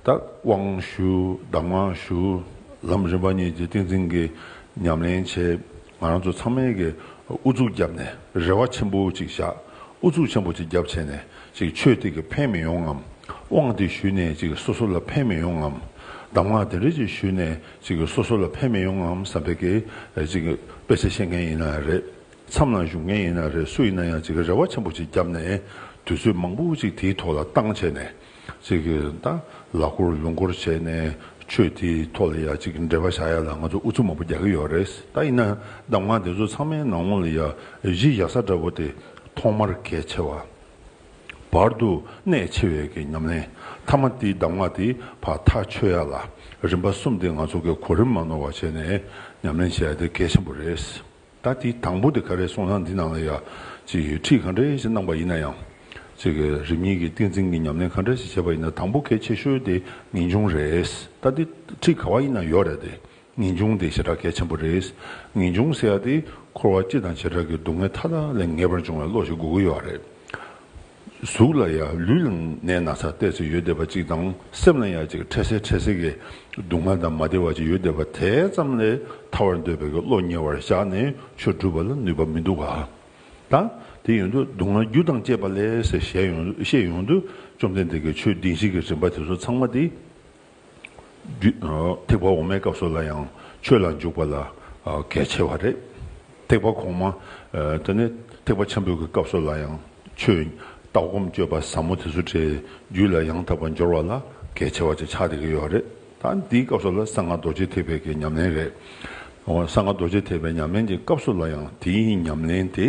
བདག་དབང་ཞུ་བདག་དབང་ཞུ། ལམ་རིམ་པ་གཉིས་ཀྱི་ཏིང་འཛིན་གྱི་ཉམས་ལེན་བྱེད། ང་རང་ཚོ་ཚང་མས་ཀྱི་ཨུ་ཚུགས་བརྒྱབ་ནས་རེ་བ་ཆེན་པོ་ཅིག་བཞག་ཨུ་ཚུགས་ཆེན་པོ་ཅིག་བརྒྱབ་བྱས་ནས་ཅིག་ཆོས་དེ་གི་ཕན་མི་ཡོང་ངམ། དབང་དེ་ཞུས་ནས་ཅིག་སོ་སོ་ལ་ཕན་མི་ཡོང་ངམ། གདམས་ངག་དེ་འདྲ་ཅིག་ཞུས་ནས་ཅིག་སོ་སོ་ལ་ཕན་མི་ཡོང་ངམ་བསམ་པའི་ཀྱི་ཅིག་དཔེ་ཆ་ཤེས་མཁན་ཡིན་ན་རེད། མཚམས་ལ་བཞུགས་མཁན་ཡིན་ན་རེད་སུ་ཡིན་ན་ཡང་ཅིག་རེ་བ་ཆེན་པོ་ཅིག་བརྒྱབ་ནས་དུས་ཚོད་མང་པོ་ཅིག་དེའི་ཐོག་ལ་བཏང་བྱས་ནས་ཚིག་གི་དང་ལག་མགོར་ལུང་སྐོར་བྱས་ནས་ཆོས་འདིའི་ཐོག་ལ་ཡག་གཅིག་འབྲེལ་བ་བྱ་ཡ་ལ་ང་ཚོ་ཨུ་ཚུགས་མང་པོ་རྒྱག་གི་ཡོད་རེད་ད་ཡིན་ན་གདམ་ངག་འདི་ཚོ་ཚང་མའི་ནང་ངོ་ལ་ཡ་གཞི་གཞག་ས་འདྲ་བོ་དེ་ཐོག་མར་གལ་ཆེ་བ། བར་དུ་གནད་ཆེ་བའི་གི་ཉམས་ལེན་མཐའ་མ་དེའི་གདམ་ངག་དེའི་བར་ཐག་ཆོད་ཡ་ལ་རིམ་པ་གསུམ་དེ་ང་ཚོ་གི་གོ་རིམ་མ་ནོར་བ་བྱས་ནས་ཉམས་ལེན་བྱ་ཡ་དེ་གལ་ཆེན་པོ་རེད། ད་དེའི་དང་པོ་དེ་ག་རེ་གསུངས་ན་འདི་ནང་ལ་ཡ། ཅེས་ཡོད་ཁྲིད་ག་འདྲའི་ཞིག་གནང་པ་ཡིན་ན་ཡང། ཅེས་གི་རིམ་གཉིས་ཀྱི་ཏིང་འཛིན་གྱི་ཉམས་ལེན་ག་འདྲ་ཞིག་བྱས་པ་ཡིན་ན་དང་པོ་གལ་ཆེ་ཤོས་དེ་ངེས་འབྱུང་རེད། ད་དེ་ཁྲིད་ག་བ་ཡིན་ན་ཡོད་རེད་དེ། ངེས་འབྱུང་དེ་བྱེ་བྲག་གལ་ཆེན་པོ་རེད། ངེས་འབྱུང་ཟེར་ཡ་དེ་འཁོར་བ་སྤྱི་དང་བྱེ་བྲག་གི་སྡུག་བསྔལ་མཐའ་དག་ལས་ངེས་པར་འབྱུང་བའི་བློ་ཞིག་དགོས་ཀྱི་ཡོད་རེད། གཟུགས་ལ་ཡང་ལུས་ལ་ནད་ན་ཚ་གཏད་ཚེ་ཡོལ་བདེ་བ་ཅིག་དང་སེམས་ལ་ཡང་ཅིག་འཕྲལ་སེལ་འཕྲལ་སེལ་གྱི་སྡུག་བསྔལ་དང་མ་བདེ་བ་ཅིག་ཡོལ་བདེ་བ་དེ་ཙམ་ལས་ཐར་བར་འདོད་པའི་གི་བློ་ཉེ་བར་བཞག་ནས་ཆོས་བསྒྲུབ་པ་ལ་ནུས་པ་མི་འདུག་ག་ད་དེ་ཡོང་དུས་སྡུག་བསྔལ་རྒྱུ་དང་བཅས་པ་ལས་ཟེར་བཤད་ཡོང་དུས་བཅོམ་ལྡན་འདས་ཀྱིས་ཆོས་སྡིངས་ཤིག་གི་རིམ་པ་དེ་ཚོ་ཚང་མ་དེ། ཐེག་པ་འོག་མའི་སྐབས་སུ་ལ་ཡང་ཆོས་ལ་འཇུག་པ་ལ་གལ་ཆེ་བ་རེད། ཐེག་པ་གོང་མ་དེ་ནི་ཐེག་པ་ཆེན་པོའི་གི་སྐབས་སུ་ལ་ཡང་ཆོས་ལྟ་སྒོམ་སྤྱོད་པ་ཟབ་མོ་དེ་ཚོ་དེའི་རྒྱུད་ལ་ཡང་དག་པར་འབྱོར་བ་ལ་གལ་ཆེ་བ་ཅིག་ཆགས་བསྡད་ཀྱི་ཡོད་རེད། ད་འདིའི་སྐབས་སུ་ལ་གསང་སྔགས་རྡོ་རྗེ་ཐེག་པའི་གི་ཉམས་ལེན་རེད། གསང་སྔགས་རྡོ་རྗེ་ཐེག་པའི་ཉམས་ལེན་གྱི་སྐབས་སུ་ལ་ཡང་དེའི་ཉམས་ལེན་དེ་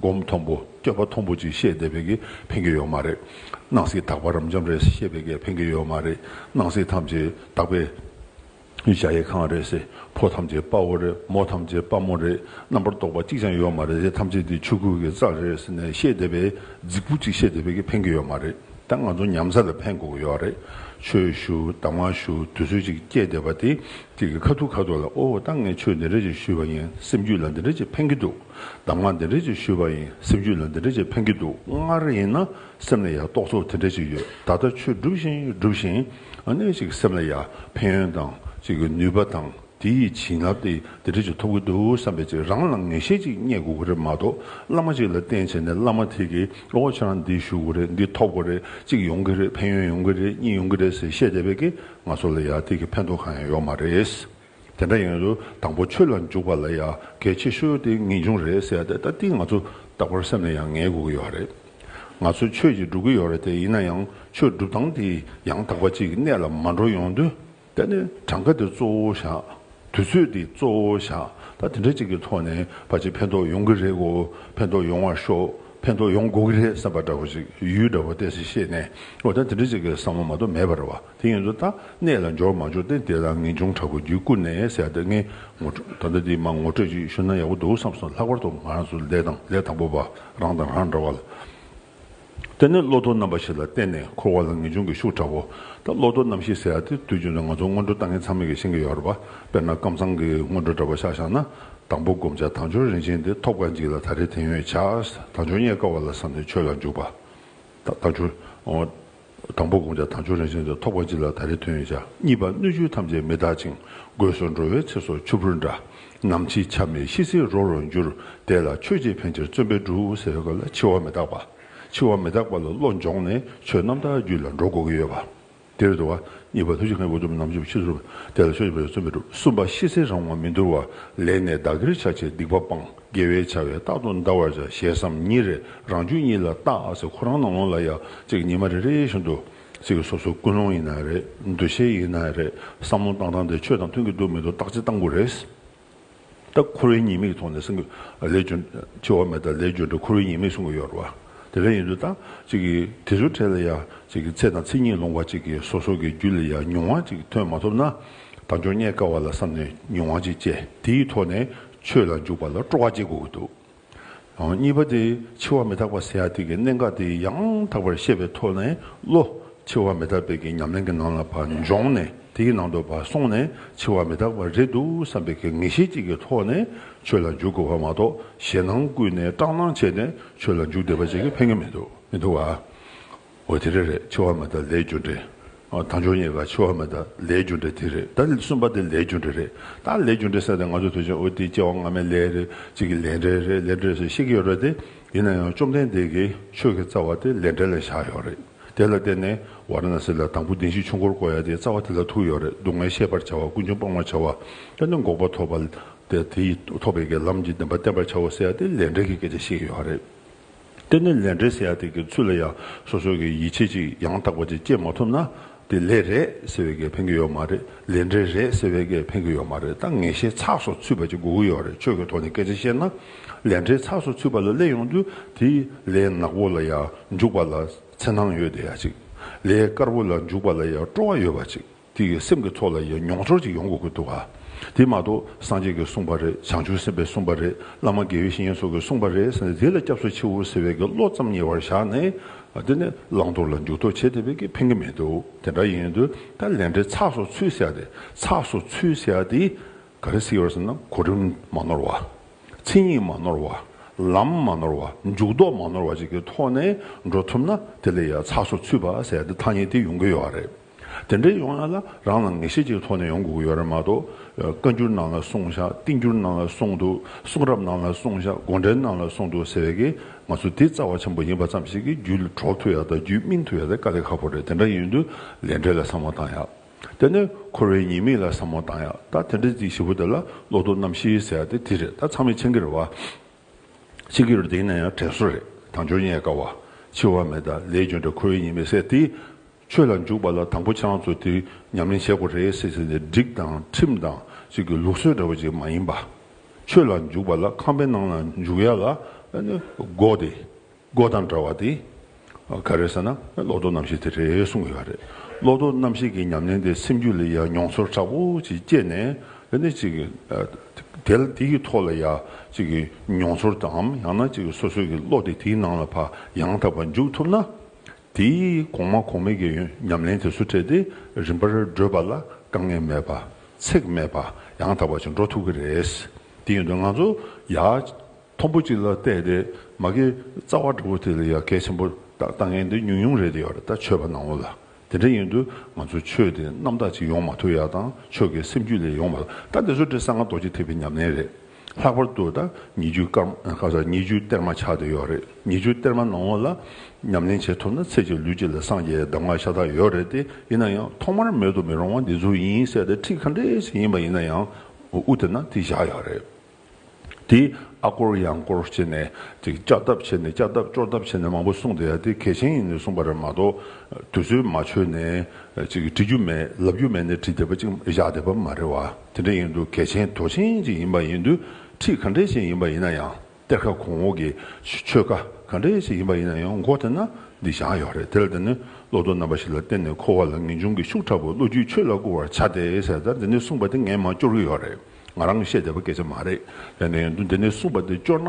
སྒོམ་མཐོང་པོ་སྐྱོན་པ་མཐོང་པོ་ཅིག་བཤད་བསྡད་པའི་གི་ཕན་གི་ཡོད་མ་རེད། སྣང་སྲིད་དག་པ་རབ་འབྱམས་རེད་བཤད་པའི་གི་ཕན་གི་ཡོད་མ་རེད། སྣང་སྲིད་ཐམས་ཅད་དག་པའི་གི་བྱ་ཡི་ཁང་རེད་སེ་ཕོ་ཐམས་ཅད་དཔའ་བོ་རེད་མོ་ཐམས་ཅད་དཔའ་མོ་རེད་རྣམ་པར་རྟོག་པ་གཅིག་ཅང་ཡོད་མ་རེད་དེ་ཐམས་ཅད་དེ་ཆོས་སྐུ་གི་རྩལ་རེད་ཟེར་ནས་བཤད་བསྡད་པའི་རྫིག་པོ་ཅིག་བཤད་བསྡད་པའི་གི་ཕན་གི་ཡོད་མ་རེད་ད་ང་ཚོ་ཉམས་ས་ལ་ཕན་དགོས་གི་ཡོད་རེད་ཆོས་ཞུ་གདམས་ངག་ཞུ་དུས་ཚོད་ཅིག་བསྐྱལ་བསྡད་པ་དེ་དེ་གི་ཁ་ཐུག་ཁ་ཐུག་ལ་ཨོ་ད་ངས་ཆོས་འདི་འདྲ་ཅིག་ཞུས་པ་ཡིན་སེམས་རྒྱུད་ལ་འདི་འདྲ་ཅིག་ཕན་གི་འདུག། གདམས་ངག་འདི་འདྲ་ཅིག་ཞུས་པ་ཡིན་སེམས་རྒྱུད་ལ་འདི་འདྲ་ཅིག་ཕན་གྱི་འདུག་སྔར་ཡིན་ན་སེམས་ལ་ཡ་རྟོག་ཚོགས་དེ་འདྲ་ཅིག་ཡོད་ད་ལྟ་ཆོས་སྒྲུབ་བཞིན་སྒྲུབ་བཞིན་ནས་ཅིག་སེམས་ལ་ཡ་ཕན་ཡོན་དང་ཅིག་ནུས་པ་དང་དེ་ཡི་བྱིན་རླབས་དེ་འདི་འདྲ་ཅིག་ཐོབ་ཀྱི་འདུག་བསམ་པས་ཅིག་རང་ལ་ངེས་ཤེས་ཅིག་རྙེད་དགོས་ཀྱི་རེད་མ་གཏོགས་བླ་མ་ཅིག་ལ་བསྟེན་བྱས་ནས་བླ་མ་དེ་གིས་འོ་ཁྱེད་རང་འདི་ཞུ་དགོས་རེད་འདི་ཐོབ་དགོས་རེད་ཅིག་ཡོང་གི་རེད་ཕན་ཡོན་ཡོང་གི་རེད་གཉིས་ཡོང་གི་རེད་ཟེར་བཤད་བསྡད་པས་ཀྱི་ང་ཚོ་ལ་ཡ་དེ་གི་ཕན་ཐོགས་གང་ཡང་ཡོད་མ་རེད། དེ་འདྲ་ཡིན་དུས་དང་པོ་ཆོས་ལ་འཇུག་པ་ལ་ཡང་གལ་ཆེ་ཤོས་དེ་ངེས་འབྱུང་རེད་ཟེར་ཏེ་ད་ལྟིང་ང་ཚོ་རྟག་པར་སེམས་ནས་ཡང་ངེས་དགོས་ཀྱི་ཡོད་རེད། ང་ཚོས་ཆོས་ཀྱིས་སྒྲུབ་ཀྱི་ཡོད་རེད་དེ་ཡིན་ན་ཡང་ཆོས་སྒྲུབ་སྟངས་དེ་ཡང་དག་པ་ཅིག་གི་གནད་ལ་མ་འགྲོ་ཡོང་དུས་ད་ནི་གྲངས་ཀ་དེ་གཙོ་བོ་བཞག་དུས་ཚོད་དེ་གཙོ་བོ་བཞག་ད་དེ་འདྲ་ཅིག་གི་ཐོག་ནས་ཕ་ཆེ་ཕན་ཐོག་ཡོང་གི་རེད་གོ་ཕན་ཐོག་ཡོང་བར་ཤོག་ཕན་ཐོག་ཡོང་དགོས་ཀྱི་རེད་བསམ་པ་འདྲ་བོ་ཅིག་ཡུལ་འདྲ་བོ་བལྟས་ཚེ་ཤེས་ནས་འོ་ད་དེ་འདྲ་ཅིག་གི་བསམ་བློ་མ་གཏོགས་མེད་པར་བ། དེ་ཡིན་དུ་ད་གནས་ལ་འབྱོར་མ་འབྱོར་ཏེ་དེ་ལ་ངེས་འབྱུང་དྲག་པོ་རྒྱུད་བསྐུལ་ནས་ཟས་དེ་ལྔའི་ངོ་སྤྲོད་ད་ལྟ་འདི་མ་ངོ་སྤྲོད་ཅིག་ཞུ་ན་ཡག་པོ་འདུག་བསམས་སོང་ལྷག་པར་དུ་ང་རང་ཚོ་ལས་དང་ལས་དང་པོ་པ་རང་དང་རང་འདྲ་བ་ལ་བརྟེན་ནས་བློ་དོར་རྣམ་པ་ཞིག་ལ་བརྟེན་ནས་འཁོར་བ་ལ་ངེས་འབྱུང་གི་ཤུགས་དྲག་པོ་ད་བློ་དོར་རྣམ་ཤེས་ཟེར་ཡ་དེ་དུས་རྒྱུན་དུ་ང་ཚོ་སྔོན་འགྲོ་ལྟ་མཁན་ཚང་མས་ཀྱི་ཤེས་ཀྱི་ཡོད་རེད་པ་དཔེར་ན་ཀམ་ཚང་གི་སྔོན་འགྲོ་འདྲ་པོ་ཤག་ཤག་ན་དང་པོ་བསྒོམ་བྱ་དང་ཆོས་རིན་ཆེན་དེ་ཐོབ་དཀའ་འཇིག་ལ་ད་རེས་དེང་ཡོད་བྱ་དང་ཆོས་རྙེད་དཀའ་བ་ལ་བསམས་ཏེ་ཆོས་ལ་འཇུག་པ། ད་ཆོས། དང་པོ་དགོངས་འཆར་དང་ཆོས་རང་བཞིན་དུ་ཐོགས་པ་གཅིག་ལ་ད་རེས་ཐོན་ཡོད། གཉིས་པ་སྣོད་བཅུད་ཐམས་ཅད་མི་རྟག་ཅིང་དགོས་སུ་འགྲོ་བའི་ཚེ་སྲོག་ཆུ་བུར་འདྲ། ནམ་འཆི་ཆ་མེད་ཤི་ཚེ་རོ་རོ་འགྱུར། དེ་ལ་ཆོས་རྗེ་ཕན་ཕྱིར་བརྩོན་པས་འབྲུ་འུ་ཟེར་བ་ལ་འཆི་བ་མི་རྟག་པ། འཆི་བ་མི་རྟག་པ་ལ་བློ་འབྱོངས་ནས་ཆོས་རྣམ་དག་རྒྱུད་ལ་འགྲོ་དགོས་ཀྱི་ཡོད་པ། དེར་འདུལ་བ། གཉིས་པ་ཐུགས་རྗེ་མཁན་པོ་གྲུབ་ནམ་ཆུབ་ཕྱིར་སྒྲུབ། དེ་ལ་ཆོས་རྗེ་ཕན་ཕྱིར་བརྩོན་པས་སྒྲུབ། གསུམ་པ་ཤི་ཚེ་རང་དབང་མི་འདོར་བ། ལས་ནས་བདག་གིར་ཆགས་ཆེ་སྡིག་པ་སྤང། དགེ་བའི་བྱ་བས་རྟག་ཏུ་འདའ་བར་བྱ་ཞེས་སམ་ཉིན་རེ་རང་ཆོས་ཉིད་ལ་བརྟགས་ཁོ་རང་ནང་ལོགས་ལ་ཡང་ཅིག་ཉི་མ་རེ་རེ་བཞིན་དུ། ཅིག་སོ་སོའི་ཀུན་སློང་ཡིན་ན་རེ་འདུ་ཤེས་ཡིན་ན་རེ་བསམ་བློ་བཏང་བཏང་སྟེ་ཆོས་དང་མཐུན་གྱི་འདུག་མི་འདུག་བརྟག་ཅིང་བཏང་གོ་རེ། ད་འཁོར་བའི་ཉེས་དམིགས་ཐོག་ནས་གསུང་གི་ལས་སྦྱོར་འཆི་བ་མེད་ད་ལས་སྦྱོར་འདི་འཁོར་བའི་ཉེས་དམིགས་གསུང་གི་ཡོད་རེད་བ། དེ་ལས་ཡིན་དུས་ད་ཅིག་དེ་ཚོའི་གྲས་ལ་ཡང་ཅིག་ཚེ་དང་ཚེ་ཉིད་ལོངས་བ་ཅིག་གིས་སོ་སོ་གི་རྒྱུད་ལ་ཡང་མྱོང་བ་ཅིག་ཐོན་མ་ཐུབ་ན་ད་འབྱོར་རྙེད་དཀའ་བ་ལ་བསམ་ནས་མྱོང་བ་ཅིག་བཅས་དེའི་ཐོག་ནས་ཆོས་ལ་འཇུག་པ་ལ་སྤྲོ་བ་སྐྱེ་དགོས་ཀྱི་འདུག་གཉིས་པ་དེ་འཆི་བ་མི་རྟག་པ་སེ་ཡ་ཏིག་གི་གནད་འགག་དེ་ཡང་དག་པར་ཤེས་པའི་ཐོག་ནས་བློ། འཆི་བ་མི་རྟག་པའི་གི་ཉམས་ལེན་གྱི་ནང་ལ་བ་འབྱོངས་ནས་དེའི་ནང་དུ་བ་སོང་ནས་འཆི་བ་མི་རྟག་པ་རེད་འདུག་བསམ་པའི་གི་ངེས་ཤེས་གཅིག་གི་ཐོག་ནས་ཆོས་ལ་འཇུག་དགོས་བ་མ་གཏོགས་ཞེད་སྣང་བསྐུལ་ནས་སྐྲག་སྣང་བྱས་ནས་ཆོས་ལ་འཇུག་བསྡད་པ་བྱེད་ཀྱི་ཕན་གྱི་མི་འདུག་མི་འདུག་བ། འོ་དེ་རེད་རེད་འཆི་བ་མེད་ད་ལའི་རྒྱུ་འབྲས། ཨོ་ད་འབྱུང་ཉེས་ཀ་འཆི་བ་མེད་ད་ལའི་རྒྱུ་འབྲས་དེ་རེད་ད་གསུམ་པ་དེ་ལའི་རྒྱུ་འབྲས་རེད་ད་ལའི་རྒྱུ་འབྲས་བསལ་ཏེ་ང་ཚོ་དུས་ཆེན་འོ་དེ་སྐྱེ་བ་སྔ་མའི་ལས་རེད་གཅིག་གི་ལས་འབྲས་རེད་ལས་འབྲས་སུ་ཤེས་ཀྱི་ཡོད་རེད་དེ་ཡིན་ན་ཡང་བཅོམ་ལྡན་འདས་ཀྱིས་ཆོས་ཀྱི་རྩ་བ་དེ་ལས་འབྲས་ལ་བཞག་ཡོད་རེད་དེ་ལ་བརྟེན་ནས་ཝཱ་ར་ན་སི་ལ་དང་པོ་གདིང་བཞི་ཆུ་འཁོར་བསྐོར་ཡ་དེའི་རྩ་བ་དེ་ལ་ཐུག་ཡོད་རེད་སྡུག་བསྔལ་ཤེས་པར་བྱ་བ་ཀུན་འབྱུང་སྤང་བར་བྱ་བ་དཔེར་ན་འགོག་པ་ཐོབ་པ་དེ་དེ་ཡིས་ཐོབ་པའི་ཀྱི་ལམ་གྱི་བདེན་པ་བསྟན་པར་བྱའོ་ཟེར་ཡ་དེ་ལས་འབྲས་ཀྱི་སྐད་ཆ་བཤད་ཀྱི་ཡོད་རེད། གཏན་ནས་ལས་འབྲས་ཟེར་ཡག་དེ་གི་ཚུལ་ལ་ཡང་སོ་སོ་གི་ཡིད་ཆེས་ཅིག་ཡང་དག་པ་ཅིག་སྐྱེས་མ་ཐུབ་ན་དེ་ལས་རེད་ཟེར་བའི་གེ་ཕན་གི་ཡོད་མ་རེད་ལས་འབྲས་རེད་ཟེར་བའི་གེ་ཕན་གི་ཡོད་མ་རེད་ད་ངེས་ཤེས་ཚགས་སོ་ཚུད་པ་ཅིག་དགོས་གི་ཡོད་རེད་ཆོས་ཀི་ཐོག་ནས་སྐད་ཆ་བཤད་ན་ལས་འབྲས་ཚགས་སོ་ཚུད་པ་ལ་སླེབས་ཡོང་དུས་དེ་ལས་ནག་པོ་ལ་ཡང་འཇུག་པ་ལ་འཚེར་སྣང་ཡོད་དེ་ཡག་ཅིག་ལས་དཀར་པོ་ལ་འཇུག་པ་ལ་ཡང་སྤྲོ་བ་ཡོད་པ་ཅིག། དེ་ཡི་སེམས་ཀྱི་ཚོགས་ལ་ཡི་མྱོང་ཚོར་ཅིག་ཡོང་དགོས་ཀྱི་འདུག་ག་དེ་མ་གཏོགས་སངས་རྒྱས་ཀྱིས་གསུངས་པ་རེད་བྱང་ཆུབ་སེམས་དཔས་གསུངས་པ་རེད་བླ་མ་དགེ་བའི་བཤེས་གཉེན་སོགས་ཀྱིས་གསུངས་པ་རེད་ཟེར་ནས་དེ་ལ་སྐྱབས་སུ་མཆིའོ་ཟེར་བའི་གི་བློ་ཙམ་ཉེ་བར་བཞག་ནས་དེ་ནི་བླང་དོར་ལ་འཇུག་ལྡོག་བྱེད་དེ་བས་ཀྱི་ཕན་གྱི་མེད་དོ་དེ་འདྲ་ཡིན་དུས་ད་ལན་འབྲེལ་ཚགས་སོགས་ཚུལ་བཞག་སྟེ་ཚགས་སོགས་ཚུལ་བཞག་དེས་ག་རེ་སྲིད་ཡོད་ཟེར་ན་གོ་རིམ་མ་ནོར་བ། མཚན་ཉིད་མ་ནོར་བ། ལམ་མ་ནོར་བ་འཇུག་ལྡོག་མ་ནོར་བ་ཅིག་གི་ཐོག་ནས་འགྲོ་ཐུབ་ན་དེ་ལས་ཡང་ཚགས་སོགས་ཚུལ་བཞག་སྟེ་ཐ་སྙད་དེ་ཡོང་གི་ཡོད་རེད། དེ་འདྲ་ཡོང་ཡ་ལ་རང་ལ་ངེས་ཤེས་ཅིག་ཐོག་ནས་ཡོང་དགོས་ཀྱི་ཡོད་རེད་མ་གཏོགས། བཀའ་འགྱུར་ནང་ལ་གསུང་བཞག་རྟིང་འགྱུར་ནང་ལ་གསུང་འདུག་གསུང་རབ་ནང་ལ་གསུང་བཞག་དགོངས་འགྲེལ་ནང་ལ་གསུང་འདུག་ཟེར་བའི་གི་ང་ཚོ་འདི་རྩ་བ་ཆེན་པོ་ཡིན་པ་ཙམ་ཞིག་གི་རྒྱུད་གྲོགས་ཐུག་ཡ་དང་རྒྱུད་སྨིན་ཐུག་ཡ་དེ་དཀའ་ལས་ཁག་པོ་རེད་དེ་འདྲ་ཡིན་དུས་ལས་འབྲས་ལ་བསམ་བློ་བཏང་ཡ། དེ་ནས་འཁོར་བའི་ཉེས་དམིགས་ལ་བསམ་བློ་བཏང་ཡ་ད་དེ་འདྲ་ཅིག་བཞི་པོ་དེ་ལ་བློ་དོར་རྣམ་བཞི་ཟེར་ཡ་དེ་དེ་རེད་ད་ཚང་མས་མཆན་འགེར་བ། མཆན་འགེར་བ་དེ་ཡིན་ན་ཡང་དྲན་གསོ་རེད་དང་འབྱོར་ཉེས་དགའ་བ་འཆི་བ་མེད་ད་ལས་རྒྱུ་འབྲས་འཁོར་བའི་ཉེས་དམིགས་ཟེར་དེ། ཆོས་ལ་འཇུག་པ་ལ་དང་པོ་ཆང་བཙོ་དེ་ཉམས་ལེན་བྱེད་དགོས་རེད་ཟེར་ཟེར་ནས་སྒྲིག་དང་ཁྲིམས་དང་ཅིག་གི་ལུགས་སྲོལ་འདྲ་བོ་ཅིག་མ་ཡིན་པ། ཆོས་ལ་འཇུག་པ་ལ་ཁང་པའི་ནང་ལ་འཇུག་ཡ་ལ་སྒོ་དེ་སྒོ་དང་འདྲ་བ་དེ། ག་རེ་ཟེར་ན་བློ་ལྡོག་རྣམ་ཤེས་དེ་རེད་གསུངས་ཡོད་རེད། བློ་ལྡོག་རྣམ་ཤེས་ཀྱི་ཉམས་ལེན་དེ་སེམས་རྒྱུད་ལ་ཡ་མྱོང་ཚོར་དྲག་པོ་ཅིག་སྐྱེས་ནས་ནི་ཅིག། དེ་ལ་དེ་ཡི་ཐོག་ལ་ཡ་ཅིག་གི་མྱོང་ཚོར་དང་ཡང་ན་ཅིག་སོ་སོ་ཀྱི་བློ་དེ་དེའི་ནང་ལ་བ་ཡང་དག་པ་འཇུག་ཐུབ་ན། དེས་གོང་མ་གོང་མའི་གེགས་ཡོན་ཉམས་ལེན་དེ་སུ་འཕྲད་དེ་རིམ་པར་བགྲོད་པ་ལ་དཀའ་ངལ་མེད་པ་ཚེགས་མེད་པ་ཡང་དག་པ་ཞིག་འགྲོ་ཐུབ་ཀྱི་རེད། དེ་ཡིན་དུས་ང་ཚོ་ཡ། མཐོན་པོ་གཅིག་ལ་བལྟས་ཏེ་མ་གི་རྩ་བ་འདྲ་བོ་དེ་ལ་ཡ་གལ་ཆེན་པོ་དང་དཀའ་ངལ་འདི་ཉུང་ཉུང་རེད་དེ་ཡོད་རེད་ད་ཆོས་པ་ནང་བོ་ལ་དེ་འདྲ་ཡིན་དུས་ང་ཚོ་ཆོས་དེ་རྣམ་དག་ཅིག་ཡོང་མ་ཐུབ་ཡ་དང་ཆོས་ཀྱི་སེམས་རྒྱུད་ལས་ཡོང་བ་ལ་ད་འདི་ཚོ་འདྲ་གསང་སྔགས་རྡོ་རྗེ་ཐེག་པའི་ཉམས་ལེན་རེད། ལྷག་པར་དུ་ད་ཉི་ཆུའི་སྐར་མ་སོ་ཉི་ཆུའི་གཏེར་མ་ཆགས་བསྡད་ཡོད་རེད་ཉི་ཆུའི་གཏེར་མ་ནང་ངོ་ལ་ཉམས་ལེན་བྱེད་ཐུབ་ན་ཚེ་གཅིག་ལུས་གཅིག་ལ་སངས་རྒྱས་གདམས་ངག་ཤ་སྟག་ཡོད་རེད་དེ་ཡིན་ན་ཡང་ཐོག་མར་མེད་དུ་མི་རུང་བ་འདི་ཚོ་ཡིན་གསལ་ཏེ་ཁྲིག་ཁ་འདྲེ་ཞིག་ཡིན་པ་ཡིན་ན་ཡང་དབུ་དེ་ན་དེ་བཞག་ཡོད་རེད་དེ་ཨ་སྐོར་ཡང་སྐོར་བྱེད་ནས་དེ་ལྕགས་ཐབ་བྱེད་ནས་ལྕགས་ཐབ་ཅོར་ཐབ་བྱེད་ནས་མང་པོ་གསུངས་བསྡད་ཡ་དེ་གལ་ཆེན་ཡིན་ནས་གསུངས་པ་རེད་མ་གཏོགས་དུས་ཚོད་མ་ཆོད་ནས་དྲི་རྒྱུ་མེད་ལབ་རྒྱུ་མེད་ནས་བྲིས་བསྡད་པ་ཅིག་བཞག་བསྡད་པ་མ་རེད་བ། དེ་འདྲ་ཡིན་དུས་གལ་ཆེན་དོགས་ཆེན་ཅིག་ཡིན་པ་ཡིན་དུས་ཁྲིད་ག་འདྲའི་ཞིག་ཡིན་པ་ཡིན་ན་ཡང་གཏེར་ཁ་གོང་འོག་གི་ཆོས་ཁ་ག་འདྲའི་ཞིག་ཡིན་པ་ཡིན་ན་ཡང་མགོ་དེད་ན་འདི་བཞག་ཡོད་རེད་དེ་ལ་དེ་ནི་བློ་དོར་རྣམ་པ་ཞིག་ལ་བརྟེན་ནས་འཁོར་བ་ལ་ངེས་འབྱུང་གི་ཤུགས་དྲག་པོས་བློ་རྒྱུད་ཆོས་ལ་བཀུར་བར་བྱ་སྟེ་ཟེར་ད་འདི་ནས་གསུངས་པ་དེ་ངས་མ་སྐྱོར་གྱི་ཡོད་རེད་ང་རང་བཤད་བདེ་བ་སྐད་ཆ་མ་རེད་ཡིན་ན་ཡིན་དུས་འདི་ནས་གསུངས་པ་དེ་སྐྱོར་ན་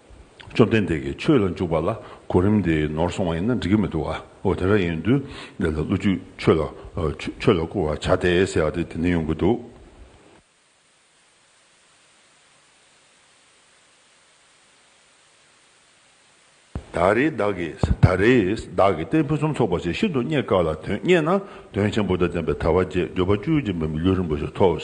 བཅོམ་ལྡན་འདས་ཀྱིས་ཆོས་ལ་འཇུག་པ་ལ་གོ་རིམ་དེ་ནོར་སོང་བ་ཡིན་ན་འགྲིག་གི་མི་འདུག་ཨོ་དེ་འདྲ་ཡིན་དུས་འདི་ལ་བློ་རྒྱུད་ཆོས་ལ་ཆོས་ལ་བཀུར་བར་བྱ་སྟེ་ཟེར་བ་དེ་དེ་འདྲ་ཡོང་གི་འདུག། ད་རེས་བདག་གིས་ད་རེས་བདག་གིས་གཏན་ཕུན་སུམ་ཚོགས་པ་ཞིག་ཤིན་ཏུ་རྙེད་དཀའ་ལ་དོན་རྙེད་ན་དོན་ཆེན་པོ་དང་ལྡན་པའི་ཐར་བ་རྗེས་འགྲོ་པ་བཅུའི་སྦྱིན་པའི་ལུས་རིང་པོ་ཞིག་ཐོབ།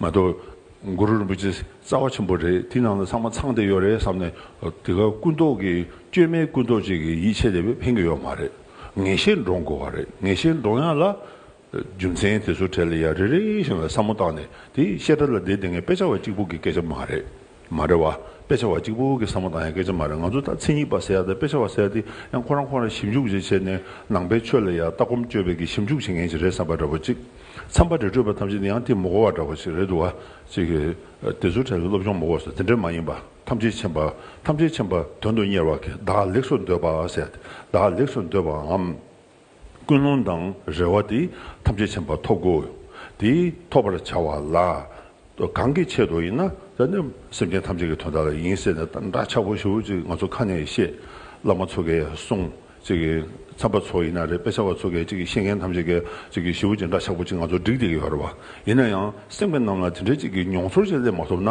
མ་གཏོགས། གུ་རུ་རིན་པོ་ཆེ་རྩ་བ་ཆེན་པོ་རེད་དེ་ནང་ལ་ཚང་མ་ཚང་སྡེ་ཡོད་རེད་བསམ་ནས་དེ་ག་ཀུན་རྟོག་གི་བཅོས་མའི་ཀུན་རྟོག་ཅིག་གི་ཡིད་ཆེས་ལས་ཕན་གི་ཡོད་མ་རེད་ངེས་ཤེས་འདྲོངས་དགོས་བ་རེད་ངེས་ཤེས་འདྲོངས་ཡག་ལ། རྒྱུ་མཚན་དེ་ཚོ་གྲས་ལ་ཡ་རེ་རེ་བཞིན་ལ་བསམ་མོ་བཏང་ནས་དེ་བཤད་གྲ་ལ་དེ་དེ་ངས་དཔེ་ཆ་བ་གཅིག་པོ་གི་སྐད་ཆ་མ་རེད། མ་རེད་བ། དཔེ་ཆ་བ་གཅིག་པུ་གི་བསམ་བློ་དང་ཡང་སྐད་ཆ་མ་རེད་ང་ཚོ་ད་ཚིག་ཉིག་པ་ཟེར་ཡ་དེ་དཔེ་ཆ་བ་ཟེར་དེ་ཡང་ཁོ་རང་ཁོ་རང་ཞིབ་འཇུག་བྱེད་བྱེད་ནས་ནང་པའི་ཆོས་ལ་ཡང་ལྟ་སྒོམ་སྤྱོད་པའི་གི་ཞིབ་འཇུག་བྱེད་མཁན་ཞིག་རེད་བསམ་པ་འདྲ་བོ་ཅིག་འཚམས་པ་རེད་སྤྲོས་པ་ཐམས་ཅད་དེ་ཡང་དེ་མོ་གོ་བ་འདྲ་བོ་ཞིག་རེད་འདུག་བ། ཅིག་གི་དེ་ཚོ་ཁྲལ་བའི་སློབ་སྦྱོང་མོ་གོ་སོ་དེ་འདྲ་མ་ཡིན་པ་ཐམས་ཅད་མཁྱེན་པ་ཐམས་ཅད་མཁྱེན་པ་དོན་དུ་གཉེར་བ་གི་བདག་ལེགས་སོ་འདོད་པ་ཟེར་དེ་བདག་ལེགས་སོ་འདོད་པའམ། ཀུན་སློང་དང་རེ་བ་དེ་ཐམས་ཅད་ཆེན་པོ་ཐོབ་གོ། དེ་ཐོབ་པར་བྱ་བ་ལ། གང་གི་ཆེད་དུ་ཡིན་ན། སེམས་ཅན་ཐམས་ཅད་ཀྱི་དོན་དག་ལ་ཡིན་ཟེར་ནས་འདྲ་ཆགས་པོ་ཞིག་ཅིག་ང་ཚོ་ཁ་ནས་བཤད། བླ་མ་ཚོ་གས་གསུངས། ཅིག་གིས་ཚངས་པ་ཚོ་ཡིན་ན་རེད་དཔེ་ཆ་བ་ཚོ་གས་ཅིག་གིས་ཤེས་མཁན་ཐམས་ཅད་གས་ཅིག་གིས་ཞིབ་ཅིག་འདྲ་ཆགས་པོ་ཅིག་ང་ཚོ་བསྒྲིགས་བསྡད་ཀྱི་ཡོད་རེད་བ། ཡིན་ན་ཡང་སེམས་ཅན་རྣམས་ལ་དེ་འདྲའི་ཅིག་གི་མྱོང་ཚོར་ཅིག་སླེབས་མ་ཐུབ་ན།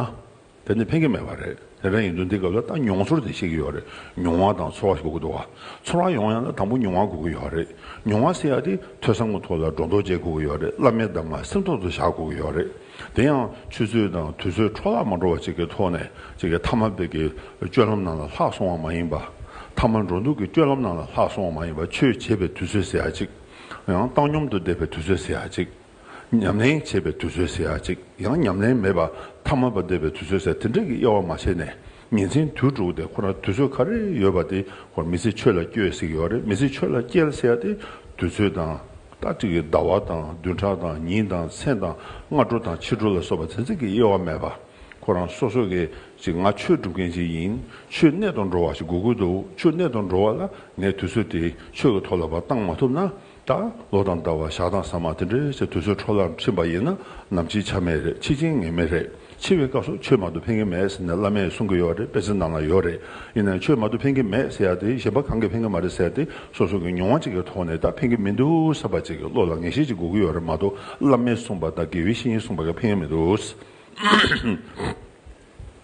དེ་ནི་ཕན་གྱི་མེད་པ་རེད་དེ་འདྲ་ཡིན་དུས་འདི་སྐབས་ལ་ལྟ་མྱོང་ཚོར་དེ་ཤེས་ཀྱི་ཡོད་རེད་མྱོང་བ་དང་ཚོར་བ་ཞིག་དགོས་འདུག་བ་ཚོར་བ་ཡོང་ཡང་ན་དང་པོ་མྱོང་བ་དགོས་ཀྱི་ཡོད་རེད་མྱོང་བ་སེལ་ཡག་དེ་ཐོས་བསམ་གྱི་ཐོག་ལ་སྒྲོ་འདོགས་བཅད་དགོས་ཀྱི་ཡོད་རེད་བླ་མའི་གདམས་ངག་སེམས་ཐོག་ཏུ་བཞག་དགོས་ཀྱི་ཡོད་རེད་དེ་ཡང་ཆུ་ཚོད་དང་དུས་ཚོད་འཕྲོ་བརླག་མ་འགྲོ་བ་ཅིག་གི་ཐོག་ནས་ཅིག་གི་ཐ་མ་དཔེ་གྱི་སྤྱོད་ལམ་ནང་ལ་ལྷག་སོང་བ་མ་ཡིན་པ་ཐ་མ་འགྲོ་འདུག་གི་སྤྱོད་ལམ་ནང་ལ་ལྷག་སོང་བ་མ་ཡིན་པ་ཆོས་བྱེད་པའི་དུས་ཚོད་ཟེར་ཡག་ཅིག་ཡང་བཏང་སྙོམ་དུ་བསྡད་པའི་དུས་ཚོད་ཟེར་ཡག་ཅིག། ཉམས་ལེན་བྱེད་པའི་དུས་ཚོད་ཟེར་ཡ་གཅིག་ཡང་ཉམས་ལེན་མེད་པར་ཐ་མལ་པར་འདས་པའི་དུས་ཚོད་ཟེར་དེ་འདྲ་གི་དབྱེ་བ་མ་ཕྱེ་ནས་ཉིན་མཚན་དུས་དྲུག་དེ་ཁོ་ན་དུས་ཚོད་ག་རེ་ཡོད་པ་དེ་ཁོར་མི་ཚེ་ཆོས་ལ་སྐྱོལ་ཟེར་གི་ཡོད་རེད་མི་ཚེ་ཆོས་ལ་སྐྱལ་ཟེར་ཡ་དེ་དུས་ཚོད་དང། ལྟ་ཁྲིད་ཀྱི་ཟླ་བ་དང་བདུན་ཕྲག་དང་ཉིན་དང་མཚན་དང་སྔ་དྲོ་དང་ཕྱི་དྲོ་ལ་སོགས་པ་ཚན་ཚིག་གི་དབྱེ་བ་མེད་པར་ཁོ་རང་སོ་སོ་གས་ཅིག་ང་ཆོས་སྒྲུབ་མཁན་ཅིག་ཡིན་ཆོས་གནས་དང་འགྲོ་བ་ཞིག་དགོས་ཀྱི་འདུག་ཆོས་གནས་དང་འགྲོ་བ་ལ་ངས་དུས་ཚོད་དེ་ཆོས་ཀྱི་ཐོག་ལ་བ་གཏང་མ་ཐུབ་ན་ད་ལོ་དང་ཟླ་བ་ཞག་དང་ཟ་མ་དེ་འདྲའི་ཚེ་དུས་ཚོད་འཕྲོ་བརླག་ཕྱིན་པ་ཡིན་ན་ནམ་འཆི་ཆ་མེད་རེད་འཆི་ཅིང་ངེས་མེད་རེད་འཆི་བའི་སྐབས་སུ་ཆོས་མང་དུ་ཕན་གྱི་མེད་ཟེར་ནས་བླ་མས་གསུང་གི་ཡོད་རེད་དཔེ་ཚིག་ནང་ན་ཡོད་རེད་ཡིན་ནའང་ཆོས་མང་དུ་ཕན་གྱི་མེད་ཟེར་ཡ་དེ་གཞན་པ་གང་གིས་ཕན་གྱི་མ་རེད་ཟེར་ཏེ་སོ་སོ་གི་མྱོང་བ་གཅིག་གི་ཐོག་ནས་ད་ཕན་གྱི་མི་འདུག་ཟེར་བ་གཅིག་གི་བློ་ལ་ངེས་ཤེས་གཅིག་འགོག་གི་ཡོད་རེད་མ་གཏོགས་བླ་མས་གསུངས་པ་དང་དགེ་བའི་བཤེས་གཉེན་གསུངས་པ་གིས་ཕན་གྱི་མི་འདུག།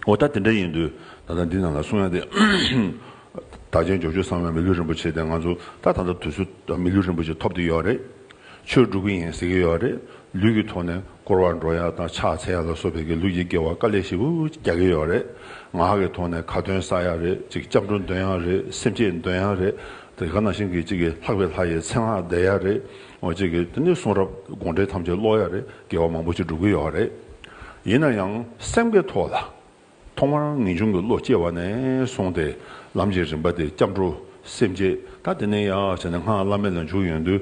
འོ་ད་དེ་འདྲ་ཡིན་དུས་ད་ལྟ་འདི་རྣམས་ལ་གསུང་ཡང་དེ། དག་ཅན་འཇོག་ཆོས་གསང་བའི་མི་ལུས་རིན་པོ་ཆེ་དེ་ང་ཚོ་ད་ད་ལྟ་དུས་སུ་མི་ལུས་རིན་པོ་ཆེ་ཐོབ་ཏུ་ཡོད་རེད། ཆོས་སྒྲུབ་ཀྱི་ཡིན་ཟེར་གྱི་ཡོད་རེད། ལུས་ཀྱི་ཐོག་ནས་སྐོར་བ་འགྲོ་ཡག་དང་ཕྱག་འཚལ་ཡག་ལ་སོགས་བལ་གྱི་ལུགས་ཀྱི་སྐྱེ་བ་དཀའ་ལས་ཤིན་ཏུ་རྒྱག་གི་ཡོད་རེད། ངག་གི་ཐོག་ནས་ཁ་འདོན་བསགས་ཡག་རེད་ཅིག་སྐྱབས་འགྲོ་འདོན་ཡག་རེད་སེམས་བསྐྱེད་འདོན་ཡག་རེད། དེ་ག་ནང་བཞིན་གྱི་ཅིག་ལྷག་པའི་ལྷ་ཡི་མཚན་སྔགས་བཟླས་ཡག་རེད། ཅིག་དེ་ནས་གསུང་རབ་དགོངས་འགྲེལ་ཐམས་ཅད་ཀློག་ཡག་རེད། འགལ་བ་མང་པོ་ཞིག་འགྲོ་གི་ཡོད་རེད། ཡིན་ན་ཡང་སེམས་ཀྱི་ཐོག་ལ། ཐོག་མར་ངེས་འབྱུང་གི་བློ་སྐྱེ་བ་ནས་བཟུང་སྟེ་ལམ་གྱི་རིམ་པ་དེ་སྐྱབས་འགྲོ་སེམས་བསྐྱེད་ད་དེ་ནས་ཡ་བྱས་ནས་སྔགས་བླ་མེད་ལ་འཇུག་ཡོང་དུས།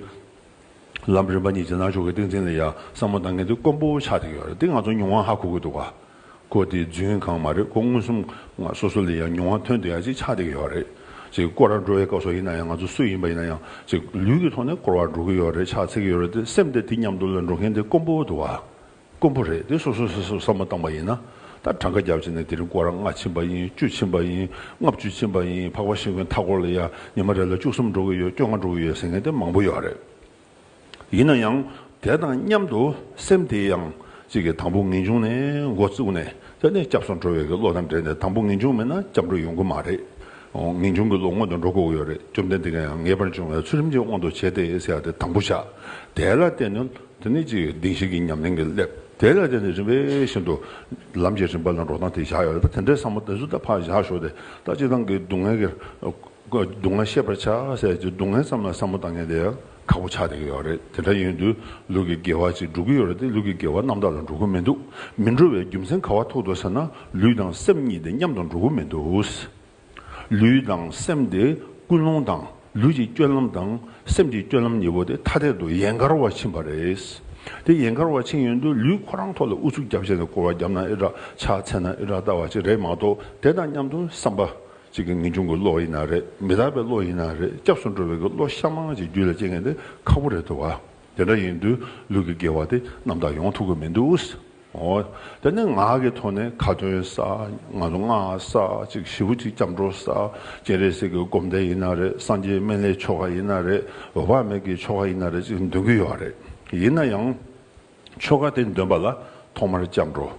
ལམ་རིམ་པ་གཉིས་ཀྱི་ནང་ཆོས་ཀྱི་ཏིང་འཛིན་ལ་ཡ་བསམ་མོ་ད་ངེས་དུས་དཀོན་པོ་ཆགས་ཀྱི་ཡོད་རེད་འདི་ང་ཚོ་མྱོང་བ་ཧ་གོ་གི་འདུག་ག། ཀོ་དེ་རྫུན་གང་མ་རེད་ཀོ་མངོན་སུམ་ང་སོ་སོ་ལས་ཡང་ཉུང་བ་ཐོན་དུ་ཡང་ཅིག་ཆགས་བསྡད་ཀྱི་ཡོད་རེད་ཅིག་ཀོ་ར་འགྲོ་བའི་སྐབས་སོགས་ཡིན་ན་ཡང་ང་ཚོ་སུ་ཡིན་པ་ཡིན་ན་ཡང་ཅིག་ལུས་ཀྱི་ཐོག་ནས་སྐོར་བ་འགྲོ་གི་ཡོད་རེད་ཕྱག་འཚལ་གྱི་ཡོད་རེད་དེ་སེམས་དེ་དེ་མཉམ་དུ་ལ་འགྲོ་མཁན་དེ་དཀོན་པོ་འདུག་བ་དཀོན་པོ་རེད་དེ་སོ་སོ་སོ་སོས་བསམ་བློ་བཏང་པ་ཡིན་ན་ད་གྲངས་ཀ་བརྒྱ་བྱས་ན་དེ་རིང་ཀོ་ར་ལྔ་ཕྱིན་པ་ཡིན་བཅུ་ཕྱིན་པ་ཡིན་ལྔ་བཅུ་ཕྱིན་པ་ཡིན་འཕགས་པ་ཤིང་བོའི་མཐའ་སྐོར་ལ་ཡང་ཉི་མ་རེ་ལ་བཅུ་གསུམ་འགྲོ་གི་ཡོད་བཅོ་ལྔ་འགྲོ་གི་ཡོད་ཟེར་མཁན་དེ་མང་པོ་ཡོད་རེད། ཡིན་ན་ཡང་དེ་དང་མཉམ་དུ་སེམས་དེ་ཡང་གཅིག་གིས་དང་པོ་ངེས་འབྱུང་ནས་མགོ་བཙུགས་ནས་དེ་ནས་སྐྱབས་སུ་འགྲོ་བའི་གི་བློ་དང་འབྲེལ་ནས་དང་པོ་ངེས་འབྱུང་མེད་ན་སྐྱབས་འགྲོ་ཡོང་གི་མ་རེད། ངེས་འབྱུང་གི་བློ་སྔོན་དུ་འགྲོ་དགོས་ཀྱི་ཡོད་རེད་བཅོམ་ལྡན་འདས་ཀྱིས་ཡང་ངེས་པར་འབྱུང་བའི་ཚུལ་རིམ་གྱིས་དབང་དུ་བྱས་ཏེ་ཟེར་ཡང་དེ་དང་པོ་བཞག་དེ་ལ་བརྟེན་ནས་དེ་ནས་གཅིག་གིས་གདིང་ཞིག་གི་ཉམས་ལེན་གྱིས་སླེབ་དེ་ལ་བརྟེན་ནས་རིམ་པས་བཞིན་དུ་ལམ་གྱི་རིམ་པ་ལ་འགྲོ་སྟངས་དེ་བཞག་ཡོད་རེད་ད་དེ་འདྲའི་བསམ་བློ་དེ་ཚོ་ད་ཕར་བཞག་ཞོག་དེ་ད་གཅིག་ཏང་གི་སྡུག་བསྔལ་གྱི་སྡུག་བསྔལ་ཤེས་པར་བྱ། ཟས་ཀྱི་སྡུག་བསྔལ་ཙམ་ལ་བསམ་བློ་བཏང་མཁན་དེ་ཁག་པོ་ཆགས་བསྡད་ཀྱི་ཡོད་རེད། དེ་འདྲ་ཡིན་དུས་ལུས་ཀྱི་དགེ་བ་ཅིག་འགྲོ་གི་ཡོད་རེད་དེ་ལུས་ཀྱི་དགེ་བ་རྣམ་དག་ལ་འགྲོ་གི་མི་འདུག་མི་འགྲོ་བའི་རྒྱུ་མཚན་ག་བ་ཐུག་འདུག་ཟེར་ན་ལུས་དང་སེམས་གཉིས་དེ་མཉམ་དུ་འགྲོ་གི་མི་འདུག། ལུས་དང་སེམས་དེ་ཀུན་སློང་དང་ལུས་ཀྱི་སྐྱོན་ལམ་དང་སེམས་ཀྱི་སྐྱོན་ལམ་གཉིས་པོ་དེ་ཐ་དད་དུ་ཡན་གར་བར་ཕྱིན་པ་རེད། དེ་ཡན་གར་བར་ཕྱིན་ཡོད་དུས་ལུས་ཁོ་རང་ཐོག་ལ་ཨུ་ཚུགས་རྒྱབ་བྱས་ནས་སྐོར་བ་རྒྱབ་ན་ཨེ་དྲག་ཕྱག་འཚལ་ན་ཨེ་དྲག་ལྟ་བ་ཅིག་རེད་མ་གཏོགས་དེ་དང་མཉམ་དུ་བསམ་པ་གཅིག་གི་ངེས་འབྱུང་གི་བློ་ཡིན་ན་རེད་མི་དག་པའི་བློ་ཡིན་ན་རེད་སྐྱབས་སུ་འགྲོ་བའི་གི་བློ་ཤ་མང་ཅིག་རྒྱུད་ལ་སྐྱེ་མཁན་དེ་ཁག་པོ་རེད་འདུག་དེ་འདྲ་ཡིན་དུས་ལུས་ཀྱི་དགེ་བ་དེ་རྣམ་དག་ཡོང་ཐུབ་གི་མི་འདུག་ཨོ། དེ་ནས་ངག་གི་ཐོག་ནས་ཁ་ཏོན་ས་ང་ཚོ་སྔགས་ས་ཅིག་བཞི་བོ་ཅིག་སྐྱབས་འགྲོ་ས་སྤྱན་རས་གཟིགས་ཀྱི་སྒོམ་བཟླས་ཡིན་ན་རེད་སངས་རྒྱས་སྨན་བླའི་ཆོ་ག་ཡིན་ན་རེད་འོད་དཔག་མེད་ཀྱི་ཆོ་ག་ཡིན་ན་རེད་ཅིག་འདོན་གི་ཡོད་རེད་ཡིན་ན་ཡང། ཆོ་ག་དེ་འདོན་པ་ལ་ཐོག་མར་སྐྱབས་འགྲོ།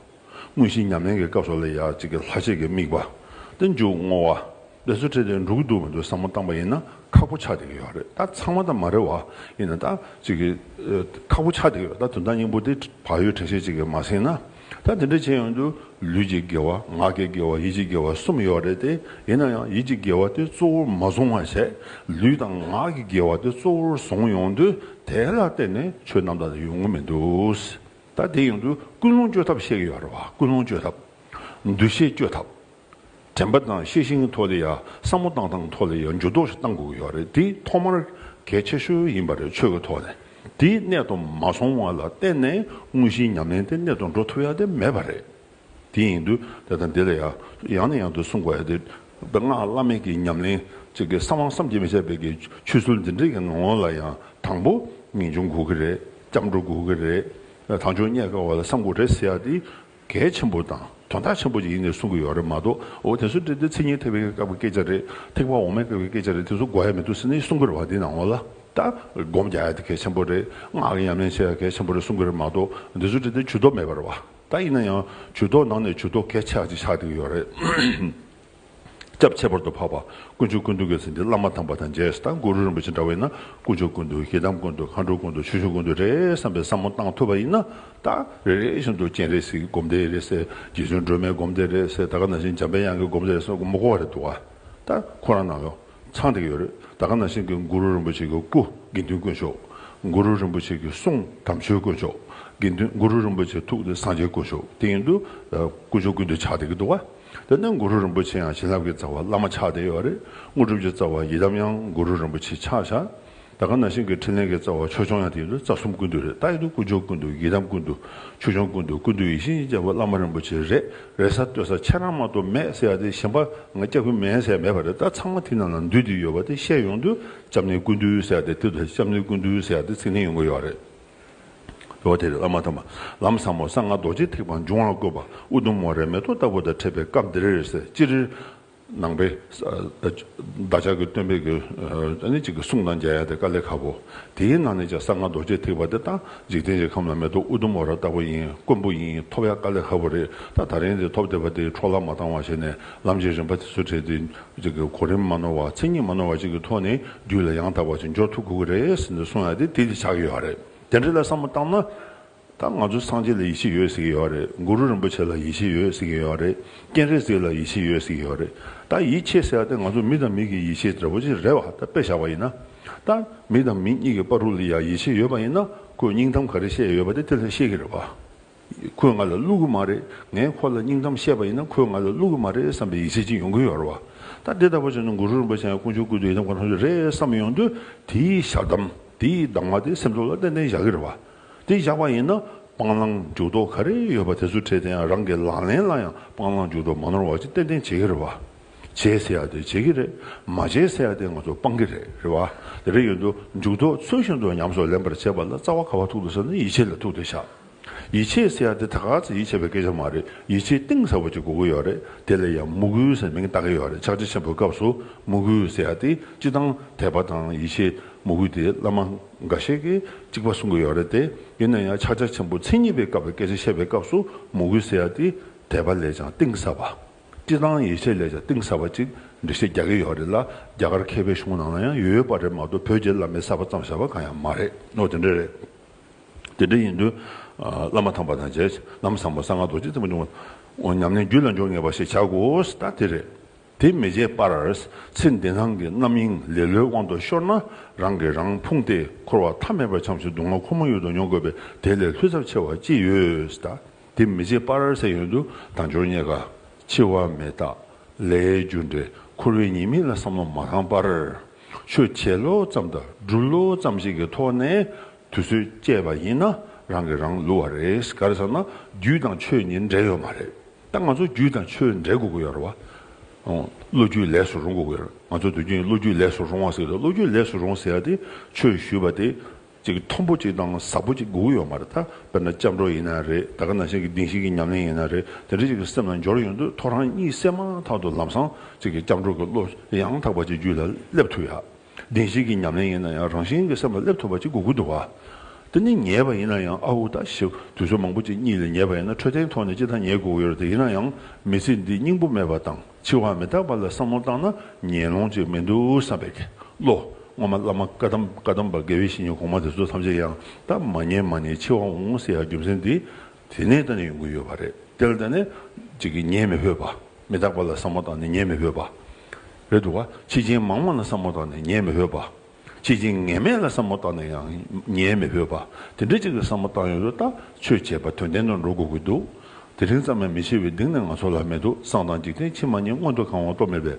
དངོས་གཞིའི་ཉམས་ལེན་གྱི་སྐབས་སོགས་ལ་ཡང་གཅིག་གི་ལྷག་ཆད་ཀྱི་དམིགས་པ། སྟེ་མཇུག་བསྔོ་བ། འབད་རྩོལ་ཁྲིད་དེ་འགྲོ་གི་འདུག་མི་འདུག་བསམ་བློ་བཏང་པ་ཡིན་ན་ཁག་པོ་ཆགས་བསྡད་ཀྱི་ཡོད་རེད་ད་ཚང་མ་དང་མ་རེད་བ་ཡིན་ན་ད་གཅིག་གི། ཁག་པོ་ཆགས་བསྡད་ཀྱི་ཡོད་ད་དོན་དག་སྙིང་པོ་དེ་བག་ཡོད་དྲན་ཤེས་གཅིག་གིས་མ་ཟིན་ན་ད་དེ་འདྲ་བྱས་ཡོང་དུས། ལུས་ཀྱི་དགེ་བ་ངག་གི་དགེ་བ་ཡིད་ཀྱི་དགེ་བ་གསུམ་ཡོད་རེད་དེ་ཡིན་ན་ཡང་ཡིད་ཀྱི་དགེ་བ་དེ་གཙོ་བོར་མ་བཟུང་བར་ཟད་ལུས་དང་ངག་གི་དགེ་བ་དེ་གཙོ་བོར་བཟུང་ཡོང་དུས་དེ་ལ་བརྟེན་ནས་ཆོས་རྣམ་དག་དེ་ཡོང་གི་མི་འདུག་ད་དེ་ཡོང་དུས་ཀུན་སློང་བཅོས་ཐབས་བཤད་ཀྱི་ཡོད་རེད་བ་ཀུན་སློང་བཅོས་ཐབས། འདུ་ཤེས་བཅོས་ཐབས། དྲན་པ་དང་ཤེས་ཤིང་ཐོག་ལེ་ཡ་བསམ་བློ་བཏང་སྟངས་ཐོག་ལེ་ཡ་འགྱུར་ལྡོག་ཞིག་གཏང་དགོས་ཀྱི་ཡོད་རེད་འདི་ཐོག་མར་གལ་ཆེ་ཤོས་ཡིན་པ་རེད་ཆོས་ཀྱི་ཐོག་ནས་དེ་གནད་དུ་མ་སོང་བ་ལ་བརྟེན་ནས་དངོས་གཞིའི་ཉམས་ལེན་དེ་གནད་དུ་འགྲོ་ཐུབ་ཡ་དེ་མེད་པ་རེད། དེ་ཡིན་དུས་དེ་དང་དེ་ལ་ཡང་ནས་ཡང་དུ་གསུང་དགོས་ཡ་དེ་སྔགས་བླ་མེད་ཀྱི་ཉམས་ལེན་ཅིག་གི་བསམ་བླང་བསམ་གྱིས་མི་ཁྱབ་པའི་གི་ཆོས་ཚུལ་འདི་འདྲིག་གི་ངང་ངོ་ལ་ཡང་དང་པོ་ངེས་འབྱུང་དགོས་ཀྱི་རེད་སྐྱབས་འགྲོ་དགོས་ཀྱི་རེད་དང་ཆོས་རྙེད་དཀའ་བ་ལ་བསམ་དགོས་རེད་ཟེར་ཡ་དེ་གལ་ཆེན་པོ་དང་དོན་དག་ཆེན་པོ་ཅིག་ཡིན་ངེས་གསུང་གི་ཡོད་རེད་མ་གཏོགས་འོ་དེ་ཚོ་འདི་འདི་ཚིག་ངན་ཐེག་པའི་སྐབས་ཀྱི་སྐད་ཆ་རེད་ཐེག་པ་འོག་མའི་སྐབས་ཀྱི་སྐད་ཆ་རེད་དེ་ཚོ་གོ་ཡ་མི་འདུག་ཟེར་ནས་གསུང་གི་རེད་བ་འདི་ན་ངོ་ལ་ལྟ་སྒོམ་རྒྱག་ཡ་དེ་གལ་ཆེན་པོ་རེད་ངག་གི་ཉམས་ལེན་བྱེད་ཡ་གལ་ཆེན་པོ་རེད་གསུང་གི་རེད་མ་གཏོགས་འདི་ཚོ་འདི་འདི་ཇུས་གཏོགས་མེད་པ་རེད་བ་ད་ཡིན་ན་ཡང་ཇུས་གཏོགས་ནང་ནས་ཇུས་གཏོགས་གལ་ཆེ་ཧ་ཅིག་ཆགས་བསྡད་ཀྱི་ཡོད་རེད། སྐྱབས་ཁྱད་པར་དུ་འཕགས་པ་དཀོན་མཆོག་ཀུན་འདུལ་གྱི་ཚིག་འདི་བླ་མ་དམ་པ་དང་རྗེས་དང་གུ་རུ་རིན་པོ་ཆེ་འདྲ་བས་ན་དཀོན་མཆོག་ཀུན་འདུལ་ཞེ་སྡང་ཀུན་འདུལ་མཁའ་འགྲོ་ཀུན་འདུལ་ཆོས་སྐྱོང་ཀུན་འདུལ་རེད་བསམ་པའི་བསམ་བློ་བཏང་ཐུབ་པ་ཡིན་ན་ད་རེ་རེ་བཞིན་དུ་སྤྱན་རས་གཟིགས་ཀྱི་སྒོམ་བཟླས་རེ་བསད་རྗེ་བཙུན་སྒྲོལ་མའི་སྒོམ་བཟླས་རེ་བསད་ད་ག་ནང་བཞིན་འཇམ་པའི་དབྱངས་ཀྱི་སྒོམ་བཟླས་རེ་བསད་མགོ་བ་རེ་དུ་བ་ད་ཁོ་རང་ནང་ཡོ་ཚང་དེ་ག་ཡོད་རེད་ད་ག་ནང་བཞིན་གྱི་གུ་རུ་རིན་པོ་ཆེ་གྱི་སྐུ་དགེ་འདུན་དཀོན་མཆོག་གུ་རུ་རིན་པོ་ཆེ་གྱི་གསུང་དམ་ཆོས་དཀོན་མཆོག་དགེ་འདུན་གུ་རུ་རིན་པོ་ཆེ་ཐུགས་ཀྱི་སངས་རྒྱས་དཀོན་མཆོག་དེ་ཡིན་དུ་དཀོན་མཆོག་ཀུན་འདུལ་ཆགས་དེ་ག་དུ་བ། དེ་ནས་གུ་རུ་རིན་པོ་ཆེ་ཡང་བྱིན་རླབས་ཀྱི་རྩ་བ་བླ་མ་ཕྱག་བདེ་ཡོད་རེད་དངོས་གྲུབ་ཀྱི་རྩ་བ་ཡི་དམ་ཡང་གུ་རུ་རིན་པོ་ཆེ་ཕྱག་བཞག་ད་ག་ན་ཤིང་གི་ཕྲིན་ལས་ཀྱི་རྩ་བ་ཆོས་སྐྱོང་ཡང་དེ་ཡིན་རེད་རྩ་གསུམ་ཀུན་འདུས་རེད་ད་ཡིན་དུས་དཀོན་མཆོག་ཀུན་འདུས་ཡི་དམ་ཀུན་འདུས་ཆོས་སྐྱོང་ཀུན་འདུས་ཀུན་འདུས་ཡིད་བཞིན་རྒྱལ་པོ་བླ་མ་རིན་པོ་ཆེ་རེད་རེད་ས་བསྟོད་ས་ཁྱེད་རང་མ་གཏོགས་མེད་ཟེར་ཡ་དེ་གཞན་པ་ང་སྐྱབས་ཀྱི་མེད་ཟེར་ཡ་མེད་པ་རེད་ད་ཚང་མ་དེ་རྣམས་ལ་འདུས་དེ་ཡོད་པ་དེ་བཤད་ཡོང་དུས་སྐྱབས་གནས་ཀུན་འདུས་ཟེར་ཡ་དེ་དེ་དུས་སྐྱབས་གནས་ཀུན་འདུས་ཟེར་ཡ་དེ་ཚིག་ནི་ཡོང་གི་ཡོད་རེད། ལོ་དེར་བླ་མ་དམ་པ་ལམ་བཟང་པོ་གསང་སྔགས་རྡོ་རྗེ་ཐེག་པ་འབྱུང་བར་བཀོད་པ་ཨུ་དུམ་མོ་རའི་མེ་ཏོག་ལྟ་བུ་དང་འཕྲད་པའི་སྐབས་འདིར་རེ་སེ་ཅི་རིར་ནང་པའི་བདག་ཅག་གི་སྟོན་པའི་གོས་ནི་གཅིག་གི་གསུང་དང་མཇལ་ཡ་དེ་ཀ་ལས་ཁ་བོ། དེའི་ནང་ནས་ཀྱང་གསང་སྔགས་རྡོ་རྗེ་ཐེག་པ་དེ་དང་འཇིག་རྟེན་གྱི་ཁམས་ལ་མེ་ཏོག་ཨུ་དུམ་མོ་ར་ལྟ་བུ་ཡིན་དཀོན་པོ་ཡིན་ཐོབ་ཡ་ཀ་ལས་ཁ་བོ་རེད་ད་ད་རིང་དེ་ཐོབ་བསྡད་པ་དེ་འཕྲོ་བརླག་མ་བཏང་བ་བྱས་ནས་ལམ་གྱི་རིམ་པ་དེ་ཚོ་བྲལ་ཏེ་རིགས་ཀྱི་གོ་རིམ་མ་ནོར་བ་མཚན་ཉིད་མ་ནོར་བ་བཅས་ཀྱི་ཐོག་ནས་རྒྱུད་ལ་ཡང་དག་པར་ཅི་འབྱོར་ཐུག་དགོས་ཀྱི་རེད་ཟེར་ནས་གསུང་ཡ་དེ་དེ་ཆགས་ཀྱི་ཡོད་རེད་དེ་འདྲ་ལ་བསམ་བློ་བཏང་ན། ད་ང་ཚོ་སངས་རྒྱས་ལ་ཡིད་ཆེས་ཡོད་ཟེར་གྱི་ཡོད་རེད་གུ་རུ་རིན་པོ་ཆེ་ལ་ཡིད་ཆེས་ཡོད་ཟེར་གྱི་ཡོད་རེད་སྤྱན་རས་གཟིགས་ལ་ཡིད་ཆེས་ཡོད་ཟེར་གྱི་ཡོད་རེད་ད་ཡིད་ཆེས་ཟེར་ཡ་དེ་ང་ཚོ་མི་དང་མི་གི་ཡིད་ཆེས་འདྲ་པོ་ཅིག་རེད་བ་ད་དཔེ་བཞག་པ་ཡིན་ན། ད་མི་དང་མི་གཉིས་ཀྱི་དཔའ་རུ་ལ་ཡང་ཡིད་ཆེས་ཡོད་པ་ཡིན་ན་ཁོས་སྙིང་གཏམ་ག་རེ་བཤད་ཡོད་པ་དེ་དེ་ལ་ཤེས་ཀྱི་རེད་བ། ཁོས་ང་ལ་བསླུ་གི་མ་རེད། ངས་ཁོ་ལ་སྙིང་གཏམ་བཤད་པ་ཡིན་ན་ཁོས་ང་ལ་བསླུ་གི་མ་རེད་བསམ་པའི་ཡིད་ཆེས་ཅིག་ཡོང་གི་ཡོད་རེད་བ། ད་འདི་ལྟ་བུ་བྱུང་ན་གུ་རུ་རིན་པོ་ཆེ་ཡང་དཀོན་མཆོག་ཀུན་ཏུ་ཡི་དམ་གང་ཐོབ་ཀྱི་རེད་བསམ་ཡོང་དུས་དེའི་ཞག་གཏམ་དེའི་གདམས་ངག་དེ་སེམས་ཚོར་ལ་ཏན་ཏན་བཞག་གི་རེད་བ། དེ་བཞག་པ་ཡིན་ན་སྤང་བླང་འཇུག་ལྡོག་ག་རེ་ཡོད་པ་དེ་ཚོ་བྲལ་དེ་ཡང་རང་གི་ལག་ལེན་ལ་ཡང་སྤང་བླང་འཇུག་ལྡོག་མ་ནོར་བ་ཅིག་ཏན་ཏན་བྱེད་གི་རེད་བ། བྱེད་ཟེར་ཡག་དེ་བྱེད་གི་རེད་མ་བྱེད་ཟེར་ཡག་དེ་ང་ཚོ་སྤང་གི་རེད་རེད་བ། དེ་རེད་ཡོད་དུས་འཇུག་ལྡོག་ཚུལ་བཞིན་དུ་ཉམས་སུ་ལེན་པར་བྱེད་པ་ལ་རྩ་བ་ག་བ་ཐུག་འདུག་ཟེར་ན་ཡིད་ཆེས་ལ་ཐུག་དེ་ཞག། ཡིད་ཆེས་ཟེར་ཡ་དེ་ད་ག་ཚོད་ཡིད་ཆེས་པའི་སྐད་ཆ་མ་རེད་ཡིད་ཆེས་གཏིང་ཟབ་པོ་ཅིག་དགོས་ཀྱི་ཡོད་རེད་དེ་ལ་ཡང་མུ་གུའི་ཟེར་མིང་བཏགས་ཀྱི་ཡོད་རེད་ཕྱག་ཆེན་ཆེན་པོའི་སྐབས་སུ་མུ་གུའི་ཟེར་ཡ་དེ་སྤྱི་དང་དད་པ་དང་ཡིད་ཆེས་མུ་གུ་དེ་བླ་མ་འགའ་ཤས་ཀྱིས་གཅིག་པ་གསུང་གི་ཡོད་རེད་དེ་ཡིན་ན་ཡང་ཕྱག་ཆ་ཆེན་པོ་མཚན་ཉིད་པའི་སྐབས་ཀྱི་སྐད་ཆ་བཤད་པའི་སྐབས་སུ་མུ་གུའི་ཟེར་ཡ་དེ་དད་པ་ལས་ཀྱང་གཏིང་ཟབ་པ། སྤྱི་དང་ཡིད་ཆེས་ལས་ཀྱང་གཏིང་ཟབ་པ་ཅིག་འགྲེལ་བཤད་རྒྱག་གི་ཡོད་རེད་ལ་རྒྱ་གར་མཁས་པའི་གཞུང་ནང་ལ་ཡང་ཡོད་པ་རེད་མ་གཏོགས་བོད་རྒྱའི་བླ་མའི་གསར་པ་ཙམ་བཞག་པ་གང་ཡང་མ་རེད་ནོ་དེ་འདྲ་རེད། དེ་འདྲ་ཡིན་དུས། བླ་མ་དམ་པ་དང་རྗེས་གནང་བཟང་པོ་གསང་སྔགས་རྡོ་རྗེ་བཙུན་མོ་འབྱུང་བ། ཉམས་ལེན་རྒྱུད་ལ་འཇོག་ངེས་པ་ཞིག་བྱ་དགོས་ད་དེ་རེད། དེ་མི་བྱེད་པར། ཚེ་འདི་སྣང་གི་རྣམ་གཡེང་ལེ་ལོའི་དབང་དུ་ཤོར་ན། རང་གིས་རང་ཕུང་སྟེ་འཁོར་བ་མཐའ་མེད་པར་འཁྱམས་ཤིང་སྡུག་བསྔལ་ཁོ་མོ་ཡོད་དུ་མྱོང་དགོས་པས་དེ་ལས་ལྷོད་ཚབས་ཆེ་བ་ཅི་ཡོད་ད། དེ་མི་བྱེད་པར་ཟེར་ཡོན་དུ་དང་སྦྱོར་རྙེད་དགའ། འཆི་བ་མེད་རྟགས་ལས་རྒྱུ་འབྲས་འཁོར་བའི་ཉེས་དམིགས་ལ་བསམ་བློ་མ་བཏང་པར། ཆོས་བྱེད་ལོ་ཙམ་དང་སྒྲུབ་ལོ་ཙམ་ཞིག་གི་ཐོག་ནས། དུས་ཚོད་བཅད་པ་ཡིན་ན་རང་གིས་རང་བསླུ་བ་རེད་ག་རེ་ཟེར་ན་རྒྱུད་དང་ཆོས་གཉིས་འབྲེལ་ཡོད་མ་རེད་ད་ང་ཚོ་རྒྱུད་དང་ཆོས་འབྲེལ་དགོས་ཀྱི་ཡོད་རེད་བ། བློ་རྒྱུད་ལས་སུ་རུང་དགོས་ཀྱི་ཡོད་རེད་ང་ཚོ་དུས་རྒྱུན་བློ་རྒྱུད་ལས་སུ་རུང་བ་ཟེར་ཀྱི་རེད་བློ་རྒྱུད་ལས་སུ་རུང་ཟེར་ཡ་དེ་ཆོས་ཞུས་པ་དེ་ཅིག་མཐོན་པོ་ཅིག་དང་ཟབ་པོ་ཅིག་དགོས་ཀྱི་ཡོད་མ་རེད་ད་དཔེར་ན་སྐྱབས་འགྲོ་ཡིན་ན་རེད་ད་ག་ན་ཞིག་གི་གདིང་ཞིག་གི་ཉམས་ལེན་ཡིན་ན་རེད་དེ་འདྲ་ཅིག་གི་སེམས་ལ་འབྱོར་ཡོང་དུས་ཐོ་རངས་གཉིད་སད་མ་ཐག་ཏུ་ལམ་སང་ཅིག་གི་སྐྱབས་འགྲོ་གི་བློ་ཡང་དག་པ་ཅིག་རྒྱུད་ལ་སླེབས་ཐུབ་ཡ། བདེན་བཞི་གི་ཉམས་ལེན་ཡིན་ན་ཡང་རང་བཞིན་གྱི་སེམས་ལ་སླེབས་ཐུབ་པ་གཅིག་དགོས་ཀྱི་འདུག་དེ་ནི་ཉེས་པ་ཡིན་ན་ཡང་ཨ་ཧུ་ད་ཞིབ་དུས་ཚོད་མང་པོ་ཅིག་གཉིད་ལས་ཉེས་པ་ཡིན་ན་འཕྲོད་བསྟེན་ཐོག་ནས་ཅི་ཐ་ཉེས་དགོས་ཀྱི་ཡོད་རེད་དེ་ཡིན་ན་ཡང་མི་ཚེ་འདི་སྙིང་པོ་མེད་པ་དང་འཆི་བ་མི་རྟག་པ་ལ་བསམ་བློ་བཏང་ན་ཉེས་ལོང་ཅིག་མི་འདུག་བསམ་པའི་ཁེ་ལོ་སྔོན་མ་བླ་མ་བཀའ་གདམས་བཀའ་གདམས་པ་དགེ་བའི་བཤེས་གཉེན་གོང་མ་དེ་ཚོ་ཐམས་ཅད་ཡང་དག་མ་ཉན་མ་ཉན་འཆི་བ་འོང་ཟེར་ཡ་རྒྱུ་མཚན་འདི་དེ་ནས་ད་ནི་ཡོང་གི་ཡོད་པ་རེད་དེ་ལ་ད་ནི། གཅིག་གིས་ཉན་མི་ཕོད་པ། མི་རྟག་པ་ལ་བསམ་བློ་བཏང་ནས་ཉན་མི་ཕོད་པ། རེད་འདུག་ག། ཕྱི་རྐྱེན་མང་མོ་ལ་བསམ་བློ་བཏང་ནས་ཉན་མི་ཕོད་པ། ཕྱི་རྐྱེན་ངན་མེད་ལ་བསམ་བློ་བཏང་ནས་ཡང་ཉན་མི་ཕོད་པ། དེ་འདྲའི་གཅིག་ལ་བསམ་བློ་བཏང་ཡོད་དུས་ལྟ་ཆོས་བྱས་པ་དོན་ལྡན་དུ་འགྲོ་དགོས་ཀྱི་འདུག་དེ་རིང་ཙམ་ཡང་མི་ཤེས་པའི་གདིང་ནི་ང་ཚོ་ལ་མེད་དུ་སང་དང་འཇིག་རྟེན་ཕྱི་མ་གཉིས་སྔོན་དུ་གང་བ་རྟོགས་མེད་པས།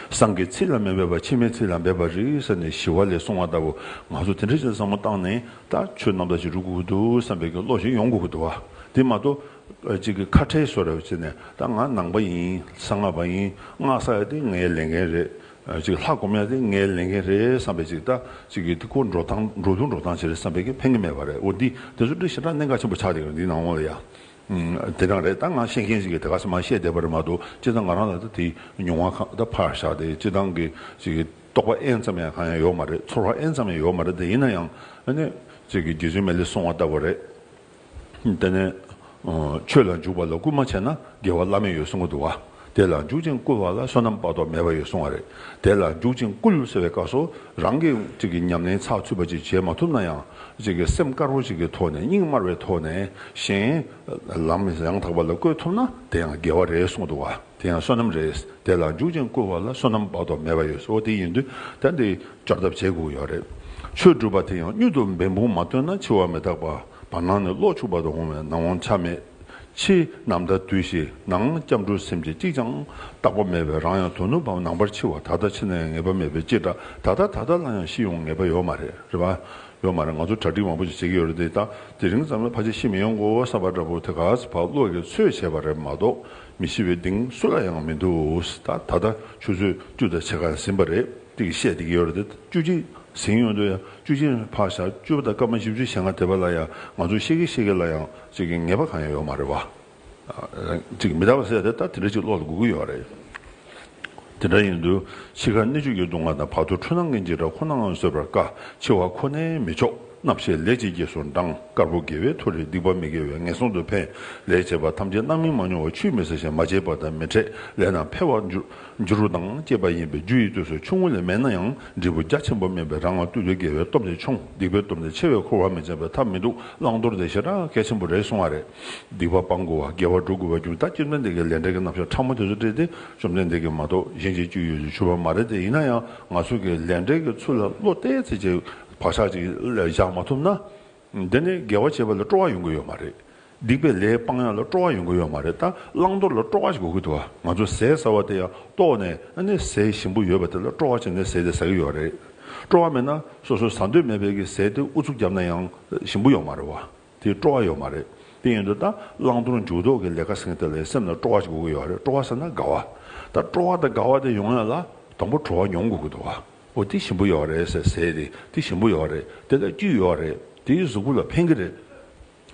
སང་གི་ཚིག་ལ་མི་འབད་པར་ཕྱི་མའི་ཚིག་ལ་འབད་པར་རིགས་ཟེར་ནས་ཞི་བ་ལས་གསུང་བ་ལྟ་བུ་ང་ཚོ་དེ་འདྲའི་ཆེད་བསམ་བློ་བཏང་ནས་ད་ཆོས་རྣམ་དག་ཅིག་རུ་གུ་གུ་དུ་བསམ་པའི་བློ་ཞིག་ཡོང་གུ་གུ་དུ་བ་དེ་མ་གཏོགས་ཅིག་གི་ཁ་ཁྲལ་སོ་རེ་བྱེད་ནས་ད་ང་ནང་པ་ཡིན་གསང་སྔགས་པ་ཡིན་སྔགས་གསར་ཡ་དེ་ངའི་ལས་འགན་རེད་ཅིག་ལྷ་སྒོམ་ཡ་དེ་ངའི་ལས་འགན་རེད་བསམ་པའི་ཅིག་ད་ཅིག་གི་དེ་ཀོ་འགྲོ་སྟངས་འགྲོ་ལུགས་འགྲོ་སྟངས་ཅིག་རེད་བསམ་པའི་ཕན་ཀི་མེད་པ་རེད་འོ་འདི་དེ་ཚོ་འདྲི་ཞེ་དྲག་གནད་འགག་ཆེན་པོ་ཆགས་འདུག་འདི་ནང་ལ་ཡ། དེ་འདྲ་རེད་ད་ང་ཤེས་མཁན་ཞིག་གིས་དེ་ག་ས་མ་བཤད་བསྡད་པ་རེད་མ་གཏོགས་སྤྱིར་བཏང་ང་རང་ལ་ད་དེའི་མྱོང་བ་ཁག་ད་ཕར་བཞག་སྟེ་སྤྱིར་བཏང་གི་རྟོགས་པ་ཨེན་ཙམ་ཡང་གང་ཡང་ཡོད་མ་རེད་ཚོར་བ་ཨེན་ཙམ་ཡང་ཡོད་མ་རེད་དེ་ཡིན་ན་ཡང་ནི་རྗེ་བཙུན་མའི་ལས་སྲུང་བ་ལྟ་བུ་རེད་དེ་ནས་ཆོས་ལ་འཇུག་པ་ལ་སྐུལ་མ་བྱས་ན་དགེ་བ་བླ་མེད་ཡོད་གསུང་གི་འདུག་ག། དེ་ལ་འཇུག་ཅིང་བསྐུལ་བ་ལ་བསོད་ནམས་དཔག་ཏུ་མེད་པ་ཡོད་གསུང་བ་རེད། དེ་ལ་འཇུག་ཅིང་བསྐུལ་ཟེར་བའི་སྐབས་སུ་རང་གི་ཉམས་ལེན་ཚགས་ཚུད་པ་ཅིག་བྱེད་མ་ཐུབ་ན་ཡང། སེམས་དཀར་པོ་ཞིག་གི་ཐོག་ནས་སྙིང་དམར་བའི་ཐོག་ནས་གཞན། ལམ་ཡང་དག་པ་ལ་བཀོད་ཐུབ་ན་དེ་ཡང་དགེ་བ་རེད་གསུངས་འདུག་བ་དེ་ཡང་བསོད་ནམས་རེད། དེ་ལ་འཇུག་ཅིང་བསྐུལ་བ་ལ་བསོད་ནམས་དཔག་ཏུ་མེད་པ་ཡོད་འོ་དེ་ཡིན་དུས་ད་འདི་སྐྱོར་ཐབས་བྱེད་དགོས་ཀྱི་ཡོད་རེད། ཆོས་སྒྲུབ་པ་དེ་ཡང་གཉུད་དུ་འབད་འབུངས་མ་བཏོན་ན་འཆི་བ་མི་རྟག་པ་བར་སྣང་ནས་གློག་འཁྱུག་པ་དང་འོང་བའི་སྣང་བ་ཆ་མེད། ཕྱི་ནམ་ཟླ་དུས་བཞི་ནང་སྐྱབས་འགྲོ་སེམས་ཅན་གཅིག་ཀྱང་རྟག་པ་མེད་པས་རང་ཡང་དོ་ནུབ་བམ་ནང་པར་འཆི་བ་ད་ལྟ་འཆི་ན་ཡང་ངེས་པ་མེད་པས་ཅི་དྲག་ད་ལྟ་ད་ལྟ་ལ་ཡང་ཤི་ཡོང་ངེས་པ་ཡོད་མ་རེད་རེད་པ། ཡོད་མ་རེད་ང་ཚོ་གྲ་སྒྲིག་མང་པོ་ཞིག་བྱེད་ཀྱི་ཡོད་རེད་དེ་དག་དེ་རིང་ཙམ་ལ་ཕ་ཅིག་ཤི་མི་ཡོང་གོ་བསམ་པ་འདྲ་པོ་དེ་ག་ཚོད་བག་བློ་གས་ཚོད་བྱས་པ་རེད་མ་གཏོགས་མི་ཤི་བའི་གདེང་སུ་ལ་ཡང་མི་འདུག་ད་ད་ལྟ་ཆུ་ཚོད་བཅུ་དང་ཕྱེད་ཀ་ཟིན་པ་རེད་ཅིག་བཤད་བསྡད་ཀྱི་ཡོད་རེད་དེ་བཅུ་གཅིག་ཟིན་ཡོང་དུས་ཡང་བཅུ་གཅིག་འཕགས་ཞག་བཅུ་པ་དང་སྐར་མ་བཞི་བཅུ་ཞེ་ལྔ་དེ་བ་ལ་ཡང་ང་ཚོ་ཤི་གི་ཤི་གི་ལ་ཡང་ཅིག་གི་ངེས་པ་གང་ཡང་ཡོད་མ་རེད་བ། ཅིག་གི་མི་རྟག་པ་སེལ་ཏེ་ད་དེ་འདྲ་ཅིག་བློ་ལ་སྒུག་གི་ཡོད་རེད། དེ་འདྲ་ཡིན་དུས་འཆི་ཁར་སྣེ་གཅོད་ཀྱི་སྡུག་བསྔལ་དང་བར་དོའི་འཁྲུལ་སྣང་ངན་ཅིག་འདྲ་ཁོ་ནའང་བཟོད་པར་དཀའ་འཆི་བ་ཁོ་ནའི་མི་ཆོག་རྣམ་ཤེས་ལས་བྱེད་ཀྱི་ཟུར་མདངས་དཀར་པོ་དགེ་བའི་ཐོ་རེ་སྡིག་པ་མི་དགེ་བའི་ངན་སོང་དུ་འཕེན་ལས་བྱེད་པ་ཐམས་ཅད་རྣམ་སྨིན་མ་མྱོང་བ་ཆུད་མི་ཟ་ཞིང་མ་བྱེད་པ་དང་མི་འཕྲད་ལས་རྣམ་འཕེལ་བར་འགྱུར་འགྱུར་བ་དང་བཅས་པ་ཡིན་པས་རྒྱུ་ཡི་སྟོད་སུ་ཆུང་ངུ་ལས་མེད་ན་ཡང་འབྲས་བུ་རྒྱ་ཆེན་པོ་སྨིན་པས་རང་ང་སྟོད་དུ་དགེ་བའི་སྟོབས་དེ་ཆུང་སྡིག་པའི་སྟོབས་དེ་ཆེ་བས་འཁོར་བ་མི་འཇམ་པའི་ཐབས་མི་འདུག་བླང་དོར་དེ་བྱེ་བྲག་གལ་ཆེན་པོ་རེད་གསུང་བ་རེད། སྡིག་པ་སྤང་དགོས་བ་དགེ་བ་སྒྲུབ་དགོས་བ་རྒྱུན་ལྟ་བསྐྱེད་བརྩོན་འདི་གའི་ལས་འབྲས་ཀྱི་རྣམ་གཞག་ཕྲ་མོ་དེ་ཚོ་བཀྲལ་ཏེ་བཅོམ་ལྡན་འདས་ཀྱིས་མ་གཏོགས་གཞན་གྱིས་བཅུ་ཡོད་ཅེས་ཞུ་བ་མ་རེད་དེ་ཡིན་ན་ཡང་ང་ཚོ་གིས་ལས་འབྲས་ཀྱི་ཚུལ་ལ་བློ་གཏད་ཚེ་རྗེས་བག་ཆགས་ཅིག་བཞག་མ་ཐུབ་ན། འདི་ནི་དགེ་བ་བྱེད་པ་ལ་སྤྲོ་བ་ཡོང་གི་ཡོད་མ་རེད། སྡིག་པའི་ལས་སྤང་ཡང་ལ་སྤྲོ་བ་ཡོང་གི་ཡོད་མ་རེད་ད་བླང་དོར་ལ་སྤྲོ་བ་ཞིག་དགོས་ཀྱི་འདུག་ང་ཚོ་ཟས་ཟ་བ་དེ་ཡང་ལྟོགས་ནས་ཨ་ནི་ཟས་ཞིམ་པོ་ཡོད་པ་དེ་ལ་སྤྲོ་བ་བྱས་ནས་ཟས་དེ་ཟ་གི་ཡོད་རེད། སྤྲོ་བ་མེད་ན་སོ་སོས་ཟ་འདོད་མེད་བས་ཀྱི་ཟས་དེ་ཨུ་ཚུགས་བརྒྱབ་ན་ཡང་ཞིམ་པོ་ཡོང་མ་རེད་བ། དེ་སྤྲོ་བ་ཡོད་མ་རེད། དེ་ཡིན་དུས་ད་བླང་དོར་མཇུག་ལྡོག་གི་ལས་ཀ་ཟེར་མཁན་དེ་ལ་ཡང་སེམས་ལ་སྤྲོ་བ་ཞིག་དགོས་ཀྱི་ཡོད་རེད་སྤྲོ་བ་ཟེར་ན་དགའ་བ། ད་སྤྲོ་བ་དང་དགའ་བ་དེ་ཡོང་ཡང་ལ་དང་པོ་བྲོ་བ་མྱོང་དགོས་ཀྱི་འདུག་བ། འོ་དེ་ཞིམ་པོ་ཡོད་རེད་ཟེར་ཟས་རེད་དེ་ཞིམ་པོ་ཡོད་རེད་དེ་ལ་རྒྱུས་ཡོད་རེད་དེའི་གཟུགས་པོ་ལ་ཕན་གྱི་རེད་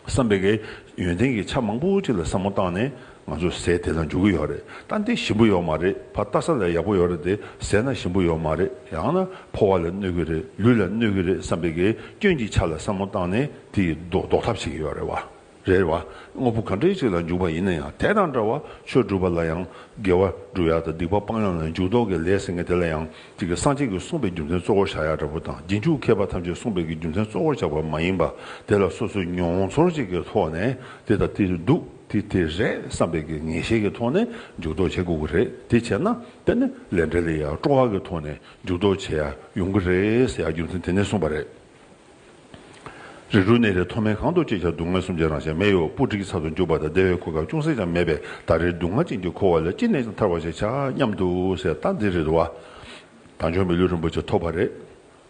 བསམ་པའི་གེ་ཡོན་ཏན་གྱི་ཆ་མང་པོ་ཅིག་ལ་བསམ་བློ་བཏང་ནས་ང་ཚོ་ཟས་དེ་ལ་འཇུག་གི་ཡོད་རེད་ད་འདི་ཞིམ་པོ་ཡོད་མ་རེད་ཕ་བལྟ་ས་ལ་ཡག་པོ་ཡོད་རེད་དེ་ཟས་ན་ཞིམ་པོ་ཡོད་མ་རེད་ཡང་ན་ཕོ་བ་ལ་གནོད་གི་རེད་ལུས་ལ་གནོད་གི་རེད་བསམ་པའི་གེ་སྐྱོན་གྱི་ཆ་ལ་བསམ་བློ་བཏང་ནས་དེ་ཡི་ཟློག་ཐབས་བྱེད་ཀྱི་ཡོད་རེད་བ། རེད་བ། དངོས་པོ་གང་འདྲའི་ཅིག་ལ་འཇུག་པ་ཡིན་ན་ཡང་དེ་དང་འདྲ་བར་ཆོས་སྒྲུབ་པ་ལ་ཡང་དགེ་བ་སྒྲུབ་ཡག་དང་སྡིག་པ་སྤང་ཡག་ལ་འཇུག་ལྡོག་གི་ལས་ཟེར་མཁན་དེ་ལ་ཡང་ཅིག་གིས་སངས་རྒྱས་ཀྱིས་གསུངས་པའི་རྒྱུ་མཚན་གཙོ་བོར་བཞག་ཡག་འདྲ་བོ་དང་རྗེས་འཇུག་མཁས་པ་ཐམས་ཅད་གསུངས་པའི་གྱི་རྒྱུ་མཚན་གཙོ་བོར་བཞག་པ་མ་ཡིན་པ་དེ་ལ་སོ་སོའི་མྱོང་ཚོར་ཅིག་གི་ཐོག་ནས་འདི་དང་འདི་རེད་འདུག་འདི་དེ་རེད་བསམ་པའི་གི་ངེས་ཤེས་ཀྱི་ཐོག་ནས་འཇུག་ལྡོག་བྱེད་དགོས་ཀྱི་རེད་དེ་བྱས་ན་དེ་ནི་ལས་འབྲས་ལས་ཡག་སྤྲོ་བ་གི་ཐོག་ནས་འཇུག་ལྡོག་བྱེད་ཡག་ཡོང་གི་རེད་ཟེར་ཡག་རྒྱུ་མཚན་དེ་ནས་གསུངས་པ་རེད། རིགས་དྲུག་ནད་རིགས་མཐོ་དམན་གང་དུ་ཅི་བྱ་སྡུག་བསྔལ་གསུམ་ཆད་རང་ཞལ་མེ་ཡི་འོག་སྤུ་གྲི་གི་ཚབ་ཏུ་འཇུག་པ་དང་བདེ་བའི་གོ་སྐབས་ཅུང་ཟད་ཀྱང་མེད་པས་ད་རེས་སྡུག་བསྔལ་ཅན་གྱིས་འཁོར་བ་ལས་ཅི་ནས་ཀྱང་ཐར་བར་བྱས་བྱ་སྙམ་དུ་ཟེར་སྟངས་འདི་རེད་བ། དང་ཆོས་མི་ལུས་རིན་པོ་ཆེ་ཐོབ་བ་རེད།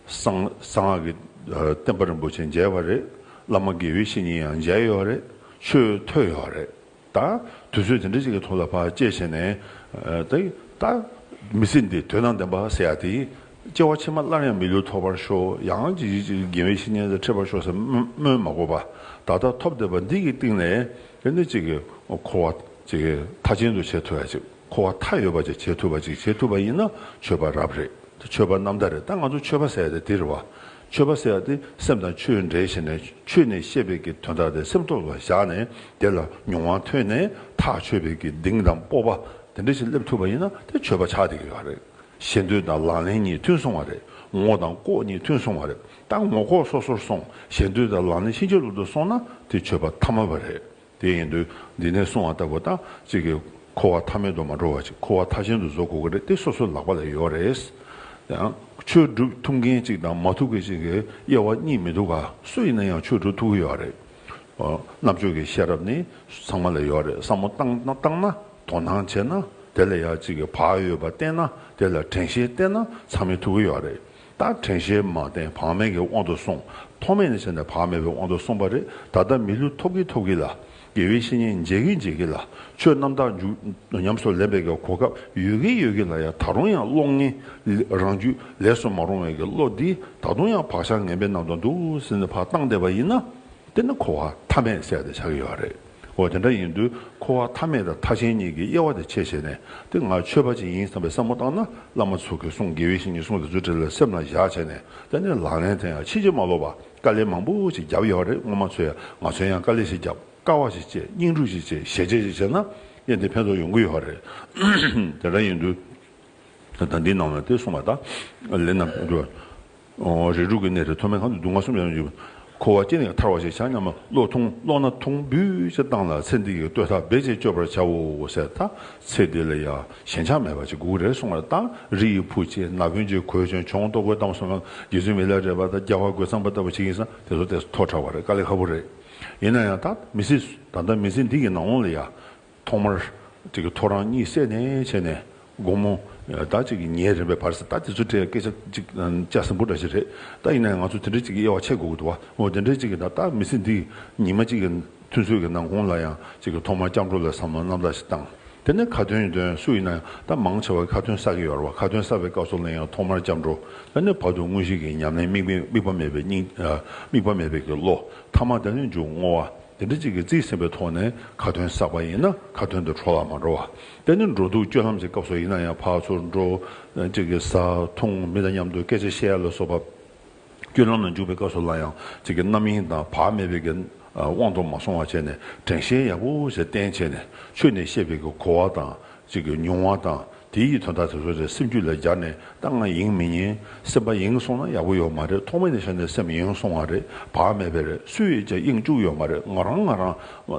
གསང་སྔགས་ཀྱི་བསྟན་པ་རིན་པོ་ཆེ་མཇལ་བ་རེད། བླ་མ་དགེ་བའི་བཤེས་གཉེན་ཡང་མཇལ་ཡོད་རེད། ཆོས་ཐོས་ཡོད་རེད། ད། དུས་ཚོད་དེ་འདྲ་ཞིག་གི་ཐོག་ལ་བར་བཅད་བྱས་ནས། ད། ད། མི་སྲིད་འདི་དོན་དང་ལྡན་པ་ཟེར་ཡག་དེ། སྐྱེ་བ་ཕྱི་མ་སླར་ཡང་མི་ལུས་ཐོབ་པར་ཤོག་ཡང་ཅི་བྱེད་ཅིག་རྒན་བས་བཤེས་གཉེན་ཚེ་ཁྲིད་པར་ཤོག་ཟེར་སྨོན་མ་གོ་བ། ད་ལྟ་ཐོབ་བསྡད་པ་འདི་གི་སྟེང་ནས་དེ་འདྲ་ཅིག་གི་འཁོར་བ་ཅིག་གི་མཐའ་ཅན་དུ་བྱེད་ཐུབ་ཡག་ཅིག་འཁོར་བ་མཐའ་ཡོད་པ་ཅིག་བྱེད་ཐུབ་པ་ཅིག་བྱེད་ཐུབ་པ་ཡིན་ན་ཆོས་པ་རབ་རེད་ད་ཆོས་པ་ནམ་ཟླ་རེད་ད་ང་ཚོ་ཆོས་པ་ཟེར་ཡག་དེ་དེ་རེད་བ། ཆོས་པ་ཟེར་བ་དེ་སེམས་དང་ཆོས་འབྲེལ་ཤེས་ནས་ཆོས་ནས་ཤེས་པའི་གི་དོན་དག་དེ་སེམས་ཐོག་ལ་བཞག་ནས་དེ་ལ་མྱོང་བ་ཐོན་ནས་ཐག་ཆོད་པའི་གི་གདིང་དང་སྤོབས་པ་དེ་འདྲ་ཞིག་སླེབས་ཐུབ་པ་ཡིན་ན་དེ་ཆོས་པ་ཆགས་དེ་གི་ག་རེད། ཞེ་འདོད་དང་ལག་ལེན་གཉིས་མཐུན་སོང་བ་རེད་ངོ་དང་ལྐོག་གཉིས་མཐུན་སོང་བ་རེད་ད་ངོ་ལྐོག་སོ་སོར་སོང་ཞེ་འདོད་དང་ལག་ལེན་ཕྱིན་ཅི་ལོག་ཏུ་སོང་ན་དེ་ཆོས་པ་ཐ་མ་བ་རེད་དེ་ཡིན་དུས་འདི་ནས་སོང་བ་ལྟ་བུ་དང་གཅིག་གིས་འཁོར་བ་མཐའ་མེད་དུ་མ་འགྲོ་བར་ཅིག་འཁོར་བ་མཐའ་བཞིན་དུ་བཟོ་དགོས་ཀྱི་རེད་དེ་སོ་སོའི་ལག་པ་ལ་ཡོད་རེད། ཆོས་སྒྲུབ་ཐུབ་མཁན་གཅིག་དང་མ་ཐུབ་མཁན་གཅིག་གི་དབྱེ་བ་གཉིས་མི་འདུག་ག་སུ་ཡིན་ན་ཡང་ཆོས་སྒྲུབ་ཐུབ་ཀྱི་ཡོད་རེད། རྣམ་དཔྱོད་ཀྱི་ཤེས་རབ་ནི་ཚང་མ་ལ་ཡོད་རེད་བསམ་བློ་བཏང་ན་དོ་སྣང་བྱས་ན་དེ་ལ་ཡང་གཅིག་གིས་བག་ཡོད་པ་བསྟན་ན་དེ་ལ་དྲན་ཤེས་བསྟེན་ན་ཚང་མས་ཐུབ་ཀྱི་ཡོད་རེད། ད་དྲན་ཤལ་མ་བསྟན་བག་མེད་ཀྱི་དབང་དུ་སོང། ཐོག་མེད་ནས་བྱས་ནས་བག་མེད་པའི་དབང་དུ་སོང་བ་རེད་ད་ལྟ་མི་ལུས་ཐོབ་ཀྱི་ཐོབ་ཀྱི་ལ། དགེ་བའི་བཤེས་གཉེན་མཇལ་གྱི་མཇལ་གྱི་ལ། ཆོས་རྣམ་དག་མཇུག་ཉམས་སུ་ལེན་པའི་གོ་སྐབས་ཡོད་ཀྱི་ཡོད་ཀྱི་ལ་ཡང་ད་རུང་ཡང་གློག་བརྙན་རང་རྒྱུད་ལས་སུ་མ་རུང་བའི་གི་བློ་འདི་ད་དུང་ཡང་བག་ཆགས་ངན་པའི་ནང་དུ་འདུག་ཟིན་ནས་བག་བཏང་བསྡད་པ་ཡིན་ན། དེ་ནི་འཁོར་བ་མཐའ་མས་བསལ་ཏེ་ཆགས་ཀྱི་ཡོད་རེད། འོ་དེ་འདྲ་ཡིན་དུས་འཁོར་བ་མཐའ་མེད་དང་མཐའ་ཆེན་གཉིས་ཀྱི་དབྱེ་བ་དེ་ཕྱེད་བྱས་ནས་འདི་ང་ཆོས་པ་ཅིག་ཡིན་བསམ་པའི་བསམ་བློ་བཏང་ན་བླ་མ་མཚོ་གི་གསུང་དགེ་བའི་བཤེས་གཉེན་གསུང་དེ་ཚོའི་གྲས་ལ་སེམས་ལ་བཞག་བྱས་ནས་དེ་ནས་ལག་ལེན་དེ་ཡང་ཕྱིན་ཅི་མ་ལོག་པར་དཀའ་ལས་མང་པོ་ཞིག་བརྒྱབ་ཡོད་རེད་སྔོན་མ་ཚོས་ཡང་ང་ཚོས་ཡང་དཀའ་ལས་ཞིག་བརྒྱབ་དཀའ་བ་ཞིག་སྤྱད་སྙིང་སྒྲུབ་ཞིག་བྱས་ཞལ་ཆད་ཞིག་བྱས་ན་དབྱེན་དེ་ཕན་ཐོག་ཡོང་གི་ཡོད་རེད་དེ་འདྲ་ཡིན་དུས་ད་ལྟ་འདིའི་ནང་ལ་དེ་གསུངས་པ་དག་ལས་རྣམ་གྲོལ་རེག་དྲུག་གི་གནས་སུ་ཐོག་མའི་གང་དུ་སྡུག་བསྔལ་གསུམ་ཡང་ཡོད་ཀྱི། འཁོར་བ་སྐྱེ་ནས་ཐར་བ་ཞེས་བྱ་སྙམ་མོ། བློ་ཐུང་ཀློག་ན་ཐུང་འབུད་ཅེས་བཏང་ལ་ཚེ་འདི་ཡི་ལྟོས་ཐག་རྦད་ཅེས་གཅོད་པར་བྱའོ་ཟེར། ད་ཚེ་འདི་ལ་ཡང་ཞེན་ཆགས་མེད་པར་ཅི་དགུག་རེག་སྲུང་བར་བཏགས་ན་རི་ཡི་ཕུག་ཅེས་ན་བུན་ཅེས་གོས་ཅན་འཕྱོང་ལྟོ་གོས་གཏམ་གསུམ་ལམ་རྒྱས་ཚུལ་མི་ལ་རས་པ་དང་རྒྱ་བྷ་གོས་གཙང་པ་ལྟ་བུ་ཅིག་ཡིན་ས་དེ་ཚོ་དེ་ཐོག་དྲག་པ་རེད་དཀའ་ལས་ཁ་པོ་རེད། ཡིན་ན་ཡང་ད་མི་ཚེ་ད་ལྟ་མི་ཚེ་འདི་ཡི་ནང་ལོང་ལ་ཡང། ཐོག་མར། ཐོ་རངས་གཉིད་སད་ནས་བྱས་ནས་དགོང་མོ། ཟླ་གཅིག་གི་ཉིན་རེམ་པའི་བར་ཟད་ད་དེ་ཚོའི་གྲས་སྐད་ཆ་ཅིག་དཔྱད་ཟིན་པོ་འདྲ་ཞིག་རེད་ད་ཡིན་ནའི་ང་ཚོ་དེ་འདྲའི་ཅིག་གི་དབྱེ་བ་ཕྱེ་དགོས་ཀྱི་འདུག་བ་འོ་དེ་འདྲའི་ཅིག་གི་ད་ལྟ་མི་ཚེ་འདི་ཉི་མ་གཅིག་གི་མཐུན་ཚོད་ཀྱི་ནང་ཁོང་ལ་ཡང་ཅིག་གི་ཐོག་མར་སྐྱབས་འགྲོ་ལ་བསམ་བློ་རྣམ་དག་ཞིག་བཏང་དེ་ནས་ཁ་དོན་དོན་སུ་ཡིན་ན་ཡང་ད་མང་ཆེ་བ་ཁ་དོན་ས་གི་ཡོད་ར་བ་ཁ་དོན་ས་བའི་སྐབས་སུ་ལ་ཡང་ཐོག་མར་སྐྱབས་འགྲོ་ད་ནས་བར་དུ་དངོས་གཞི་གི་ཉམས་ལེན་དམིགས་པ་མེད་པའི་སྙིང་དམིགས་པ་མེད་པའི་གི་བློ་ཐ་མ་ད་ནས་འཇུག་བསྔོ་བ། དེ་འདྲ་གཅིག་གིས་རྩིས་ཟིན་པའི་ཐོག་ནས་ཁ་དོན་བསགས་པ་ཡིན་ན་ཁ་དོན་དུ་འཕྲོ་བར་མ་འགྲོ་བ། དེ་ནི་འགྲོ་འདུག་སྤྱོད་ལམ་གྱི་སྐབས་སུ་ཡིན་ན་ཡང་ཕར་ཚུར་འགྲོ། གཅིག་གིས་ཟ་འཐུང་མི་དང་མཉམ་དུ་སྐད་ཆ་བཤད་ལ་སོགས་པ། སྤྱོད་ལམ་ལ་འཇུག་པའི་སྐབས་སུ་ལ་ཡང་གཅིག་གི་རྣམ་གཡེང་དང་བག་མེད་པའི་དབང་དུ་མ་སོང་བ་བྱས་ནས་དྲན་ཤེས་ཡག་པོ་ཞིག་བསྟེན་བྱས་ནས་ཆོས་ནི་ཤེས་པའི་གོ་བ་དང་ཅིག་གི་མྱོང་བ་དང་དེ་ཡི་དོན་དག་དེ་ཚོ་རེ་སེམས་རྒྱུད་ལ་སྦྱར་ནས་ད་ང་ཡེངས་མི་ཉན་སེམས་པ་ཡེངས་སོང་ན་ཡག་པོ་ཡོད་མ་རེད་ཐོག་མེད་ནས་བཤད་ནས་སེམས་ཡེངས་སོང་བ་རེད་བག་མེད་པས་རེད་སུས་ཡིན་ཀྱང་ཡེངས་བཅུག་ཡོད་མ་རེད་ང་རང་ང་རང་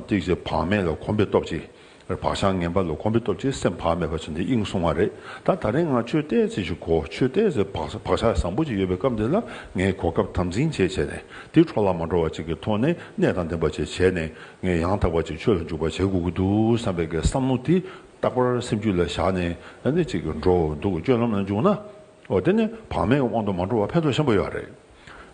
ཅིག་ཅིག་བག་མེད་ལ་གོམས་པའི་སྟོབས་ཀྱིས་བག་ཆགས་ངན་པ་ལ་གོམས་པའི་སྟོབས་ཀྱིས་སེམས་བག་མེད་པ་བྱས་ནས་ཡེངས་སོང་བ་རེད་ད་ད་རེས་ང་ཆོས་དད་ཚེ་ཞིག་གོ་ཆོས་དད་ཚེ་བག་ཆགས་བཟང་པོ་ཅིག་ཡོད་པའི་སྐབས་འདི་ལ་ངས་གོ་སྐབས་དམ་འཛིན་བྱས་བྱས་ནས་དེ་འཕྲོ་བརླག་མ་འགྲོ་བ་ཅིག་གི་ཐོག་ནས་གནས་དང་ལྡན་པ་བྱས་བྱས་ནས་ངས་ཡང་དག་པ་ཅིག་ཆོས་ལ་འཇུག་པར་བྱེད་དགོས་ཀྱི་འདུག་བསམ་པའི་གེགས་བསམ་མནོ་དེ་རྟག་པར་སེམས་རྒྱུད་ལ་བཞག་ནས་ཨ་ནི་ཅིག་འགྲོ་འོ་འདུག་སྤྱོད་ལམ་ལ་འཇུག་ན་འོ་དེ་ནི་བག་མེད་ཀྱི་དབང་དུ་མ་འགྲོ་བར་ཕན་ཐོགས་ཆེན་པོ་ཡོད་རེད།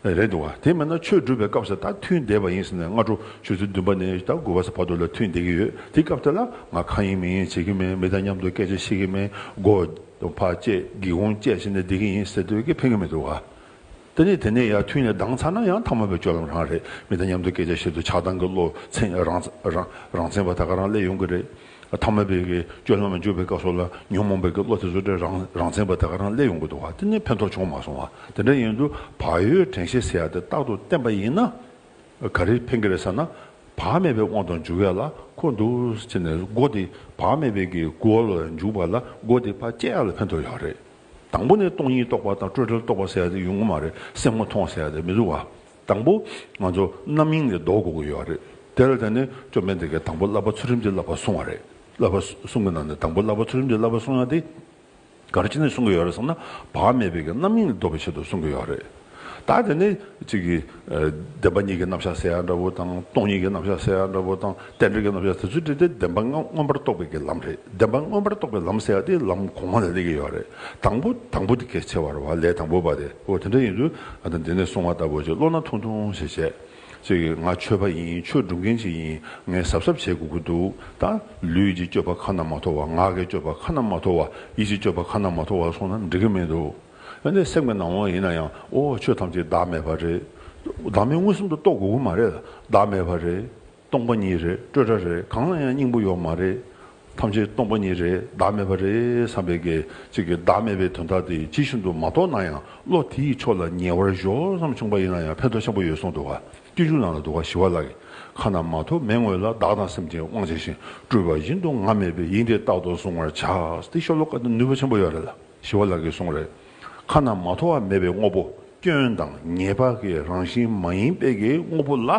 རེད་འདུག་དེ་མིན་ན་ཆོས་སྒྲུབ་པའི་སྐབས་སུ་ད་ཐུན་འདས་པ་ཡིན་ཟེར་ནས་སྔ་དྲོ་ཆུ་ཚོད་བདུན་པ་ནས་ད་དགུ་བ་ས་བར་དུ་ལ་ཐུན་འདས་ཀྱི་ཡོད་དེ་སྐབས་དེ་ལ་ང་གང་ཡིན་མིན་ཡིན་བྱེད་ཀྱི་མེད་མི་དང་མཉམ་དུ་སྐད་ཆ་བཤད་ཀྱི་མེད་མགོ་འཕགས་བཅས་སྒེའུ་ཁུང་བཅས་བྱས་ནས་བསྡད་ཀྱི་ཡིན་ཟེར་འདོད་ཀྱི་ཕན་གྱི་མི་འདུག་ག། དེ་ནས་དེ་ནས་ཡར་ཐུན་ནས་ལྡང་ཚར་ན་ཡང་ཐ་མ་པའི་སྤྱོད་ལམ་རང་རེད་མི་དང་མཉམ་དུ་སྐད་ཆ་བཤད་དུས་ཆགས་སྡང་གི་བློ་ཚེངས་རང་ཚེངས་པ་ད་ག་རང་སླད་ཡོང་གི་རེད། ཐ་མ་པའི་སྤྱོད་ལམ་ལ་འཇུག་པའི་སྐབས་སོགས་ལ་ཉོན་མོངས་པའི་བློ་དེ་ཚོ་དྲན་རང་ཚེངས་པ་ད་ག་རང་སླད་ཡོང་གི་འདུག་དེ་ནི་ཕན་ཐོགས་བྱུང་མ་སོང་བ་དེ་འདྲ་ཡིན་དུས་བག་ཡོད་དྲན་ཤེས་ཟེར་ཡ་དེ་རྟག་ཏུ་བསྟན་པ་ཡིན་ན་ག་རེ་ཕན་གི་རེད་ཟེར་ན་བག་མེད་པའི་དབང་དུ་འཇུག་ཡ་ལ་འཁོ་འདུག་ཟེར་ནས་སྒོ་དེ་བག་མེད་པའི་གི་སྒོ་ལ་འཇུག་པ་ལ་སྒོ་དེ་བག་བཅད་ཡ་ལ་ཕན་ཐོགས་ཡག་རེད། དང་པོ་ནི་སྟོང་ཉིད་རྟོགས་པ་དང་སྤྲོས་བྲལ་རྟོགས་པ་ཟེར་ཡ་དེ་ཡོང་གི་མ་རེད་སེམས་ངོ་མཐོང་བ་ཟེར་ཡ་དེ་མི་འདུག་ག་དང་པོ་ང་ཚོ་རྣམ་གཡེང་ལས་ལྡོག་དགོས་ཀྱི་ཡོད་རེད་དེ་ལ་བརྟེན་ནས་བཅོམ་ལྡན་འདས་ཀྱིས་དང་པོ་བསླབ་པ་ཚུལ་ཁྲིམས་ཀྱི་བསླབ་པ་གསུངས་བ་རེད་བསླབ་པ་གསུངས་གི་ནང་ནས་དང་པོ་བསླབ་པ་ཚུལ་ཁྲིམས་ཀྱི་བསླབ་པ་གསུངས་ཡ་དེ་ག་རེ་བྱས་ནས་གསུངས་ཀྱི་ཡོད་རེད་བསམ་ན་བག་མེད་པའི་གི་རྣམ་གཡེང་ལས་ལྡོག་པའི་ཆེད་དུ་གསུངས་ཀྱི་ཡོད་རེད། ད་དེ་ནི་གཅིག་གིས་བདེན་པ་གཉིས་ཀྱི་རྣམ་གཞག་ཟེར་ཡག་འདྲ་བོ་དང་སྟོང་ཉིད་ཀྱི་རྣམ་གཞག་ཟེར་ཡག་འདྲ་བོ་དང་རྟེན་འབྲེལ་གྱི་རྣམ་གཞག་དེ་ཚོ་བྲིས་ཏེ་བདེན་པ་ལྔ་མངོན་པར་རྟོགས་པའི་གྱི་ལམ་རེད་བདེན་པ་མངོན་པར་རྟོགས་པའི་ལམ་ཟེར་ཡག་དེ་ལམ་གོང་མ་ལ་སླེབས་ཀྱི་ཡོད་རེད་དང་པོ་དང་པོ་དེ་གལ་ཆེ་བར་བ་ལས་དང་པོ་བ་དེ་ཨོ་དེ་འདྲ་ཡིན་དུས་ད་དེ་ནས་གསུང་བ་ལྟ་བུ་ཅིག་བློ་སྣ་ཐུང་ཐུང་ཞིག་བྱས། གཅིག་གིས་ང་ཆོས་པ་ཡིན་ཆོས་སྒྲུབ་མཁན་ཞིག་ཡིན་ངས་གཟབ་གཟབ་བྱེད་དགོས་ཀྱི་འདུག་ད་ལུས་ཀྱི་སྤྱོད་པ་ཁ་ན་མ་ཐོ་བ་ངག་གི་སྤྱོད་པ་ཁ་ན་མ་ཐོ་བ་ཡིད་ཀྱི་སྤྱོད་པ་ཁ་ན་མ་ཐོ་བ་སོང་ན་འགྲིག་གི་མི་འདུག། ཨ་ནི་སེམས་ཀྱི་ནང་དབང་ཡིན་ན་ཡང་ཨོ་ཆོས་ཐམས་ཅད་བདག་མེད་པ་རེད། བདག་མེད་མངོན་སུམ་དུ་རྟོགས་དགོས་ཀྱི་མ་རེད་ལ་བདག་མེད་པ་རེད། སྟོང་པ་ཉིད་རེད་སྤྲོས་བྲལ་རེད་གང་ལ་ཡང་སྙིང་པོ་ཡོད་མ་རེད། ཐམས་ཅད་སྟོང་པ་ཉིད་རེད་བདག་མེད་པ་རེད་བསམ་པའི་སྐད་ཅིག་གིས་བདག་མེད་པའི་དོན་དག་དེ་ཇི་བཞིན་དུ་མ་རྟོགས་ན་ཡང་བློ་དེ་ཡི་ཕྱོགས་ལ་ཉེ་བར་གཞོལ་བསམ་བྱུང་པ་ཡིན་ན་ཡང་ཕན་ཐོགས་ཆེན་པོ་ཡོད་གསུངས་འདུག་ག་སྐྱེ་འཇུག་ནང་ལ་འདུག་ག་ཞི་བ་ལགས་ཀྱི་ཁ་ན་མ་ཐོ་མེད་ངོས་ལ་བདག་དང་སེམས་ཅན་དབང་བྱས་ཤིང་སྤྲུལ་པ་བཞིན་དུ་ང་མེད་པའི་དབྱིངས་དེ་རྟག་ཏུ་བཟུང་བར་བྱ་སྟེ་ཤོ་ལོ་ཀ་དེ་ནུས་པ་ཆེན་པོ་ཡོད་རེད་ལ། ཞི་བ་ལགས་ཀྱིས་གསུངས། རེ་ཁཱ་ན་མ་ཐོ་བ་མེད་པའི་དངོས་པོ་སྐྱོན་དང་ངེས་པ་གི་རང་བཞིན་མ་ཡིན་པའི་གི་དངོས་པོ་ལ་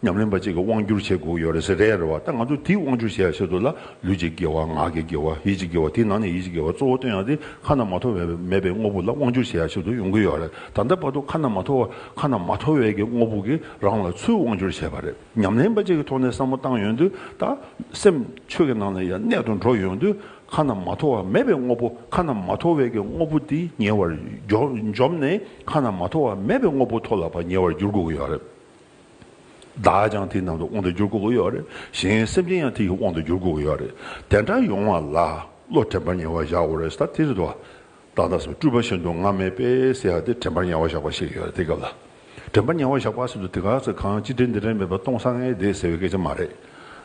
ཉམས་ལེན་པ་ཅིག་གི་དབང་བསྒྱུར་བྱེད་དགོས་ཀྱི་ཡོད་རེད་ཟེར་རེད་རེད་བ་ད་ང་ཚོས་དེའི་དབང་བསྒྱུར་བྱེད་ཡ་བྱེད་དུ་ལ་ལུས་ཀྱི་དགེ་བ་ངག་གི་དགེ་བ་ཡིད་ཀྱི་དགེ་བ་དེའི་ནང་ནས་ཡིད་ཀྱི་དགེ་བ་གཙོ་བོ་སྟོན་ཡ་དེ་ཁ་ན་མ་ཐོ་བའི་མེད་པའི་དངོས་པོ་ལ་དབང་བསྒྱུར་བྱེད་ཡ་བྱེད་དུ་ཡོང་གི་ཡོད་རེད་ད་ལྟ་བར་དུ་ཁ་ན་མ་ཐོ་བ་ཁ་ན་མ་ཐོ་བའི་གི་དངོས་པོ་གི་རང་ལ་ཚུལ་དབང་བསྒྱུར་བྱས་པ་རེད་ཉམས་ལེན་པ་ཅིག་གི་ཐོག་ནས་བསམ་བློ་བཏང་ཡོང་དུས་ད་སེམས་ཆོས་ཀྱི་ནང་ནས་ཡ་གནད་དུ་འགྲོ་ཡོང་དུས་ཁ་རྣམས་མ་ཐོ་བ་མེད་པའི་དངོས་པོ་ཁ་རྣམས་མ་ཐོ་བས་ཀྱི་དངོས་པོ་དེ་ཉེ་བར་འཇོམས་ནས་ཁ་རྣམས་མ་ཐོ་བ་མེད་པའི་དངོས་པོ་ཐོ་ལ་བ་ཉེ་བར་འགྱུར་དགོས་ཀྱི་ཡོད་རེད། བདག་ཀྱང་དེའི་ནང་དུ་དབང་དུ་འགྱུར་དགོས་ཀྱི་ཡོད་རེད། གཞན་སེམས་ཅན་ཡང་དེ་ཡི་དབང་དུ་འགྱུར་དགོས་ཀྱི་ཡོད་རེད། དེ་འདྲ་ཡོང་བ་ལ་བློ་དྲན་པ་ཉེ་བར་བཞག་དགོས་རེད་ད་དེ་རེད་དོ། བདག་ལྟ་སོགས་སྤྲུལ་པ་བཞིན་དུ་ང་མེད་པས་སེ་ཧ་སྟེ་དྲན་པར་ཉེ་བར་བཞག་པ་ཞིག་ཡོད་རེད་དེ་སྐབས་ལ། དྲན་པར་ཉེ་བར་བཞག་པ་ཟེར་དུས་དེ་ག་ཚོད་གང་ཅི་དྲན་འདི་དྲན་མེད་པར་སྟོང་སང་ངེ་བསྡད་ཟེར་བའི་སྐད་ཆ་མ་རེད།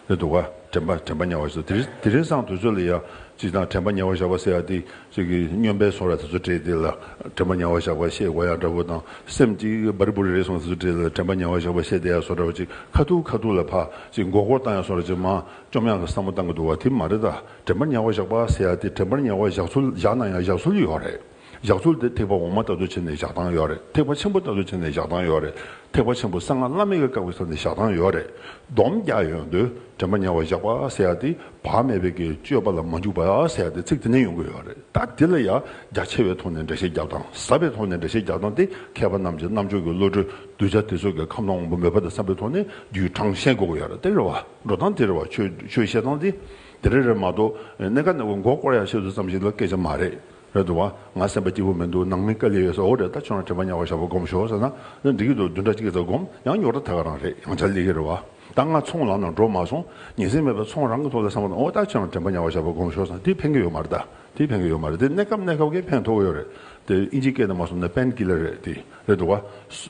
རེད་འདུག་ག་དྲན་པ་དྲན་པར་ཉེ་བར་བཞག་དེ་རིང་དེ་རིང་སང་དུས་ཚོད་ལ་ཡ་གཅིག་དང་དྲན་པར་ཉེ་བར་བཞག་པ་སེ་ཧ་སྟེ་གཅིག་གིས་སྨྱོན་པའི་ཚོར་བ་དེ་ཚོ་སྤྲད་དེ་ལ་དྲན་པར་ཉེ་བར་བཞག་པ་ཤེས་གོ་ཡ་འདྲ་བོ་དང་སེམས་གཅིག་འབར་རི་བུ་རེ་རེ་སོང་དེ་ཚོ་སྤྲད་དེ་ལ་དྲན་པར་ཉེ་བར་བཞག་པ་ཤེས་བསྡད་ཡ་སོང་འདྲ་བོ་གཅིག་ཁ་ཐུག་ཁ་ཐུག་ལ་ཕ་གཅིག་མགོ་སྐོར་བཏང་ཡ་སོང་རེ་གཅིག་མ་བཅོམ་ཡང་ལ་བསམ་བློ་བཏང་གི་འདུག་བ་དེ་མ་རེད་ད། དྲན་པར་ཉེ་བ་བཞག་པ་ཟེར་ཡ་དེ་དྲན་པར་ཉེ་བ་བཞག་ཚུལ་བཞག་ན་ཡང་བཞག་ཚུལ་ཡོད་རེད། བཞག་ཚུལ་དེ་ཐེག་པ་འོག་མ་ལྟ་བུ་བྱས་ནས་བཞག་སྟངས་ཡོད་རེད་ཐེག་པ་ཆེན་པོ་ལྟ་བུ་བྱས་ནས་བཞག་སྟངས་ཡོད་རེད་ཐེག་པ་ཆེན་པོ་གསང་སྔགས་བླ་མེད་ཀྱི་བཀའ་བའི་ས་ནས་བཞག་སྟངས་ཡོད་རེད་སྡོམ་རྒྱག་ཡོང་དུས་དྲན་པར་ཉེ་བ་བཞག་པ་ཟེར་ཡ་དེ་བག་མེད་པའི་གི་སྤྱོད་པ་ལ་མ་འཇུག་པ་ཟེར་ཡ་དེ་ཚིག་དེ་ནས་ཡོང་གི་ཡོད་རེད་ད་དེ་ལ་ཡང་རྒྱ་ཆེ་བའི་ཐོག་ནས་འགྲེལ་བཤད་རྒྱབ་སྟངས་ཟབ་པའི་ཐོག་ནས་འགྲེལ་བཤད་རྒྱག་སྟངས་དེ་མཁས་པ་རྣམས་ཀྱི་རྣམ་དཔྱོད་ཀྱི་བློ་གྲོས་གདུལ་བྱ་དེ་ཚོ་གི་ཁམས་དང་དབང་པོ་མོས་པ་དང་བསམ་པའི་ཐོག་ནས་རྒྱུའི་གྲངས་བཤད་དགོས་ཀྱི་ཡོད་རེད་དེ་རེད་བ་འགྲོ་སྟངས་དེ་རེད་བ་ཆོས་བཤད་སྟངས་དེ། དེ་རེད་རེད་མ་གཏོགས་གནས་ཀ་ནས་མགོ་སྐོར་ཡག་ཤོས་དུ་ཙམ་ཞིག་ལ་སྐད་ཆ་མ་རེད། རེད་འདུག་བ། ང་སེམས་པ་སྐྱིད་པོ་མི་འདུག་ནང་མི་དཀའ་ལས་ཡོད་ས་འོ་རེད་ད་ཁྱོད་རང་དྲན་པ་ཉག་གོ་ཞག་པོ་སྒོམ་ཞོག་ཟེར་ན་འདི་སྐད་དུ་བདུན་ཕྲག་གཅིག་གི་ཟ་སྒོམ་ཡང་ཉོག་དྲ་ད་ག་རང་རེད་ཡང་བྱ་ལས་ཀི་རེད་བ། ད་ང་ཚོང་ལམ་ནང་འགྲོ་མ་སོང་ཉིན་སྲིང་མེད་པ་ཚོང་རང་གི་ཐོག་ལ་སངས་པ་ན་འོ་ད་ཁྱོད་རང་དྲན་པ་ཉག་གོ་ཞག་པོ་སྒོམ་ཞོག་ཟེར་ན་དེ་ཕན་གི་ཡོད་མ་རེད་ད་དེ་ཕན་གི་ཡོད་མ་རེད་དེ་གནས་སྐབས་གནས་སྐབས་ཀི་ཕན་ཐོག་གི་ཡོད་རེད་དེ་ཨིན་ཇིའི་སྐད་དུ་མ་སོང་ན་པན་གི་ལ་རེད་དེ། རེད་འདུག་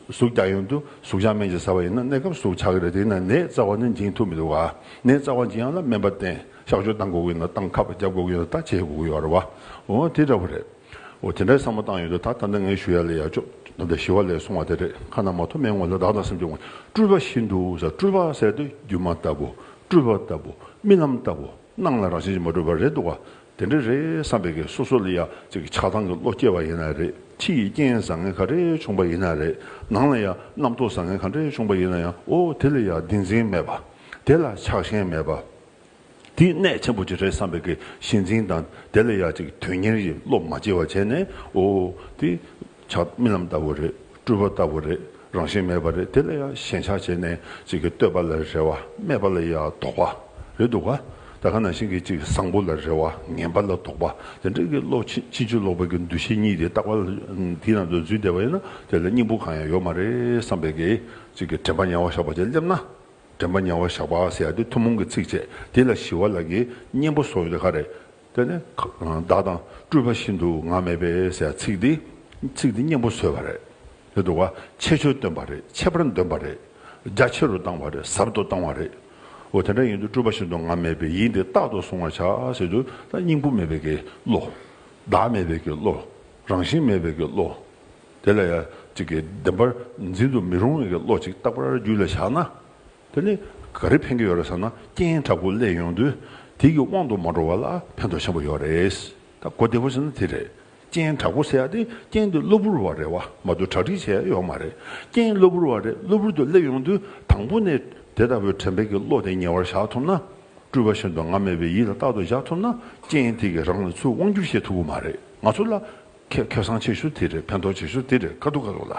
གཟུགས་རྒྱ་ཡོན་དུ་གཟུགས་བྱང་སྨན་གྱིས་ཟ་བ་ཡིན་ན་གནས་སྐབས་གཟུགས་ཆགས་ཀྱི་རེད་དེས་ན་ནད་རྩ་བ་ནི་འབྱིན་ཐུབ་མི་འདུག་ནད་རྩ་བ་འབྱིན་ཡང་ལ་སྨན་པ་བསྟེན་གཤགས་བཅོས་བཏང་དགོས་ཀྱི་ཡོད་ན་བཏང་ཁ་བརྒྱབ་དགོས་ཀྱི་ཡོད་ན་ད་བྱེད་དགོས་ཀྱི་ཡོད་རེད་བ་འོ་དེ་འདྲ་བོ་རེད་འོ་དེ་འདྲའི་བསམ་བློ་བཏང་ཡོད་དུས་ད་ད་ནི་ངའི་ཞུ་ཡ་ལས་ཡ་ཅོ་ད་ད་ཞི་བ་ལས་སོང་བ་དེ་རེད་ཁ་ན་མ་ཐོ་མའི་ངོ་ལ་བདག་དང་སེམས་ཀྱི་ངོ་སྤྲུལ་པ་བཞིན་དུ་ཟ་སྤྲུལ་པ་ཟེར་དུས་སྒྱུ་མ་ལྟ་བུ་སྤྲུལ་པ་ལྟ་བུ་རྨི་ལམ་ལྟ་བུ། སྣང་ལ་རང་བཞིན་གྱིས་མ་གྲུབ་པ་རེད་འདུག་དེ་འདྲ་རེད་བསམ་པའི་ཀྱི་སོ་སོ་ལ་ཡ་གཅིག་གི་ཆགས་སྡང་གི་བློ་སྐྱེ་བ་ཡིན་ན་རེད་ཕྱི་ཡི་རྐྱེན་བཟང་ངན་ག་རེ་བྱུང་པ་ཡིན་ན་རེད་ནང་ལ་ཡ་རྣམ་རྟོག་བཟང་ངན་ག་འདྲ་བྱུང་པ་ཡིན་ན་ཡང་ཨོ་དེ་ལ་ཡ་བདེན་འཛིན་མེད་པ་དེ་ལ་ཆགས་ཞེན་མེད་པ་དེ་གནད་ཆེན་པོ་གཅིག་རེད་བསམ་པའི་ཀྱི་ཞེན་འཛིན་དང་དེ་ལ་ཡ་གཅིག་དོན་གཉེར་གྱི་བློ་མ་སྐྱེ་བ་བྱས་ནས་ཨོ་དེ། ཆགས་རྨི་ལམ་ལྟ་བུ་རེད་སྤྲུལ་པ་ལྟ་བུ་རེད་རང་བཞིན་མེད་པ་རེད་དེ་ལ་ཡང་ཞེན་ཆགས་བྱས་ནས་ཅིག་གིས་བསྟོད་པ་ལ་རེ་བ་སྨད་པ་ལ་ཡང་དོགས་པ་རེད་འདུག་ད་ག་ནང་བཞིན་གྱི་ཅིག་བཟང་པོ་ལ་རེ་བ་ངན་པ་ལ་དོགས་པ་དེ་འདྲ་གི་བློ་ཕྱིན་ཅི་བཅོལ་ལོག་པའི་གི་འདུ་ཤེས་གཉིས་དེ་རྟག་པར་དེའི་ནང་དུ་འཛུལ་བསྡད་པ་ཡིན་ན་དེ་ལ་སྙིང་པོ་གང་ཡང་ཡོད་མ་རེད་བསམ་པའི་གི་ཅིག་གི་དྲན་པ་ཉལ་བ་བཞག་པ་བཅས་སླེབས་ན་དྲན་པ་ཉལ་བ་བཞག་པ་ཟེར་ཡ་དེ་ཐུན་མོང་གི་ཚིགས་བཅད་དེ་ལ་ཞི་བ་ལ་གི་སྙིང་པོ་སོགས་ཡོད་དེ་ག་རེད། དེ་ནི་བདག་དང་སྤྲུལ་པ་བཞིན་དུ་ང་མེད་པས་ཟེར་ཚིག་འདི་ཚིག་འདི་སྙན་པོ་བཟོས་པ་རེད་དེ་འགྲོ་བ་ཆེ་ཆོས་སྟོན་པ་རེད་ཆེ་བར་འདོན་པ་རེད་རྒྱ་ཆེ་རུ་བཏང་བ་རེད་ཟབ་ཏུ་བཏང་བ་རེད་འོ་དེ་འདྲ་ཡིན་དུས་སྤྲུལ་པ་བཞིན་དུ་ང་མེད་པས་ཡིད་འདི་རྟག་ཏུ་བཟུང་བར་བྱ་ཟེར་དུས་ད་སྙིང་པོ་མེད་པས་ཀྱི་བློ། བདག་མེད་པས་ཀྱི་བློ། རང་བཞིན་མེད་པས་ཀྱི་བློ། དེ་ལ་ཡང་ཅིག་གིས་བདེན་པར་འཛིན་དུ་མི་རུང་བས་ཀྱི་བློ་ཅིག་རྟག་པར་རྒྱུད་ལ་བཞག་ན། དེ་ནི་ག་རེ་ཕན་གྱི་ཡོད་རེད་ཟེར་ན་རྐྱེན་དྲག་པོ་བསླད་ཡོང་དུས་དེ་ཀྱི་དབང་དུ་མ་འགྲོ་བ་ལ་ཕན་ཐོགས་ཆེན་པོ་ཡོད་རེད། ད་གོ་བདེ་བོ་བྱས་ན་དེ་རེད། རྐྱེན་དྲག་པོ་ཟེར་ཡག་དེ་རྐྱེན་དེ་གློ་བུར་བ་རེད་བ་མ་གཏོགས་གྲ་སྒྲིག་བྱས་ཡོད་མ་རེད། རྐྱེན་གློ་བུར་བ་རེད་གློ་བུར་དུ་བསླད་ཡོང་དུས་དང་པོ་ནས་དེ་ལྟ་བུའི་དྲན་འཕེལ་གྱི་བློ་དེ་ཉེ་བར་བཞག་ཐུབ་ན། སྤྲུལ་བ་བཞིན་དུ་ང་མེད་པའི་ཡིད་ལ་རྟག་ཏུ་བཞག་ཐུབ་ན་རྐྱེན་དེ་གིས་རང་ལ་ཚུར་དབང་བསྒྱུར་བྱེད་ཐུབ་པོ་མ་རེད་ང་ཚོ་ལ་ཁྱེད་ཁེ་བཟང་བྱེད་ཤུགས་དེ་རེད་ཕན་ཐོགས་བྱེད་ཤུགས་དེ་རེད་ཁ་ཐུག་ཁ་ཐུག་ལ།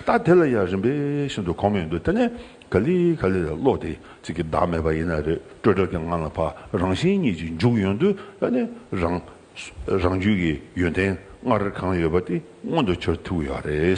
ད་དེ་ལ་ཡང་རིམ་པས་ཤིན་ཏུ་གོ་མི་འདུག་དེ་ནས་ག་ལི་ག་ལི་ལ་བློ་དེ་གཅིག་གི་བདག་མེད་པ་ཡིན་ན་རེད་སྤྲོས་བྲལ་གྱི་ངང་ལ་བ་རང་བཞིན་གཉིས་ཀྱི་འཇུག་ཡོང་དུས་ད་ནི་རང་རང་རྒྱུད་ཀྱི་ཡོན་ཏན་སྔར་གང་ཡོད་པ་དེ་མངོན་དུ་གྱུར་ཐུབ་ཀྱི་ཡོད་རེད།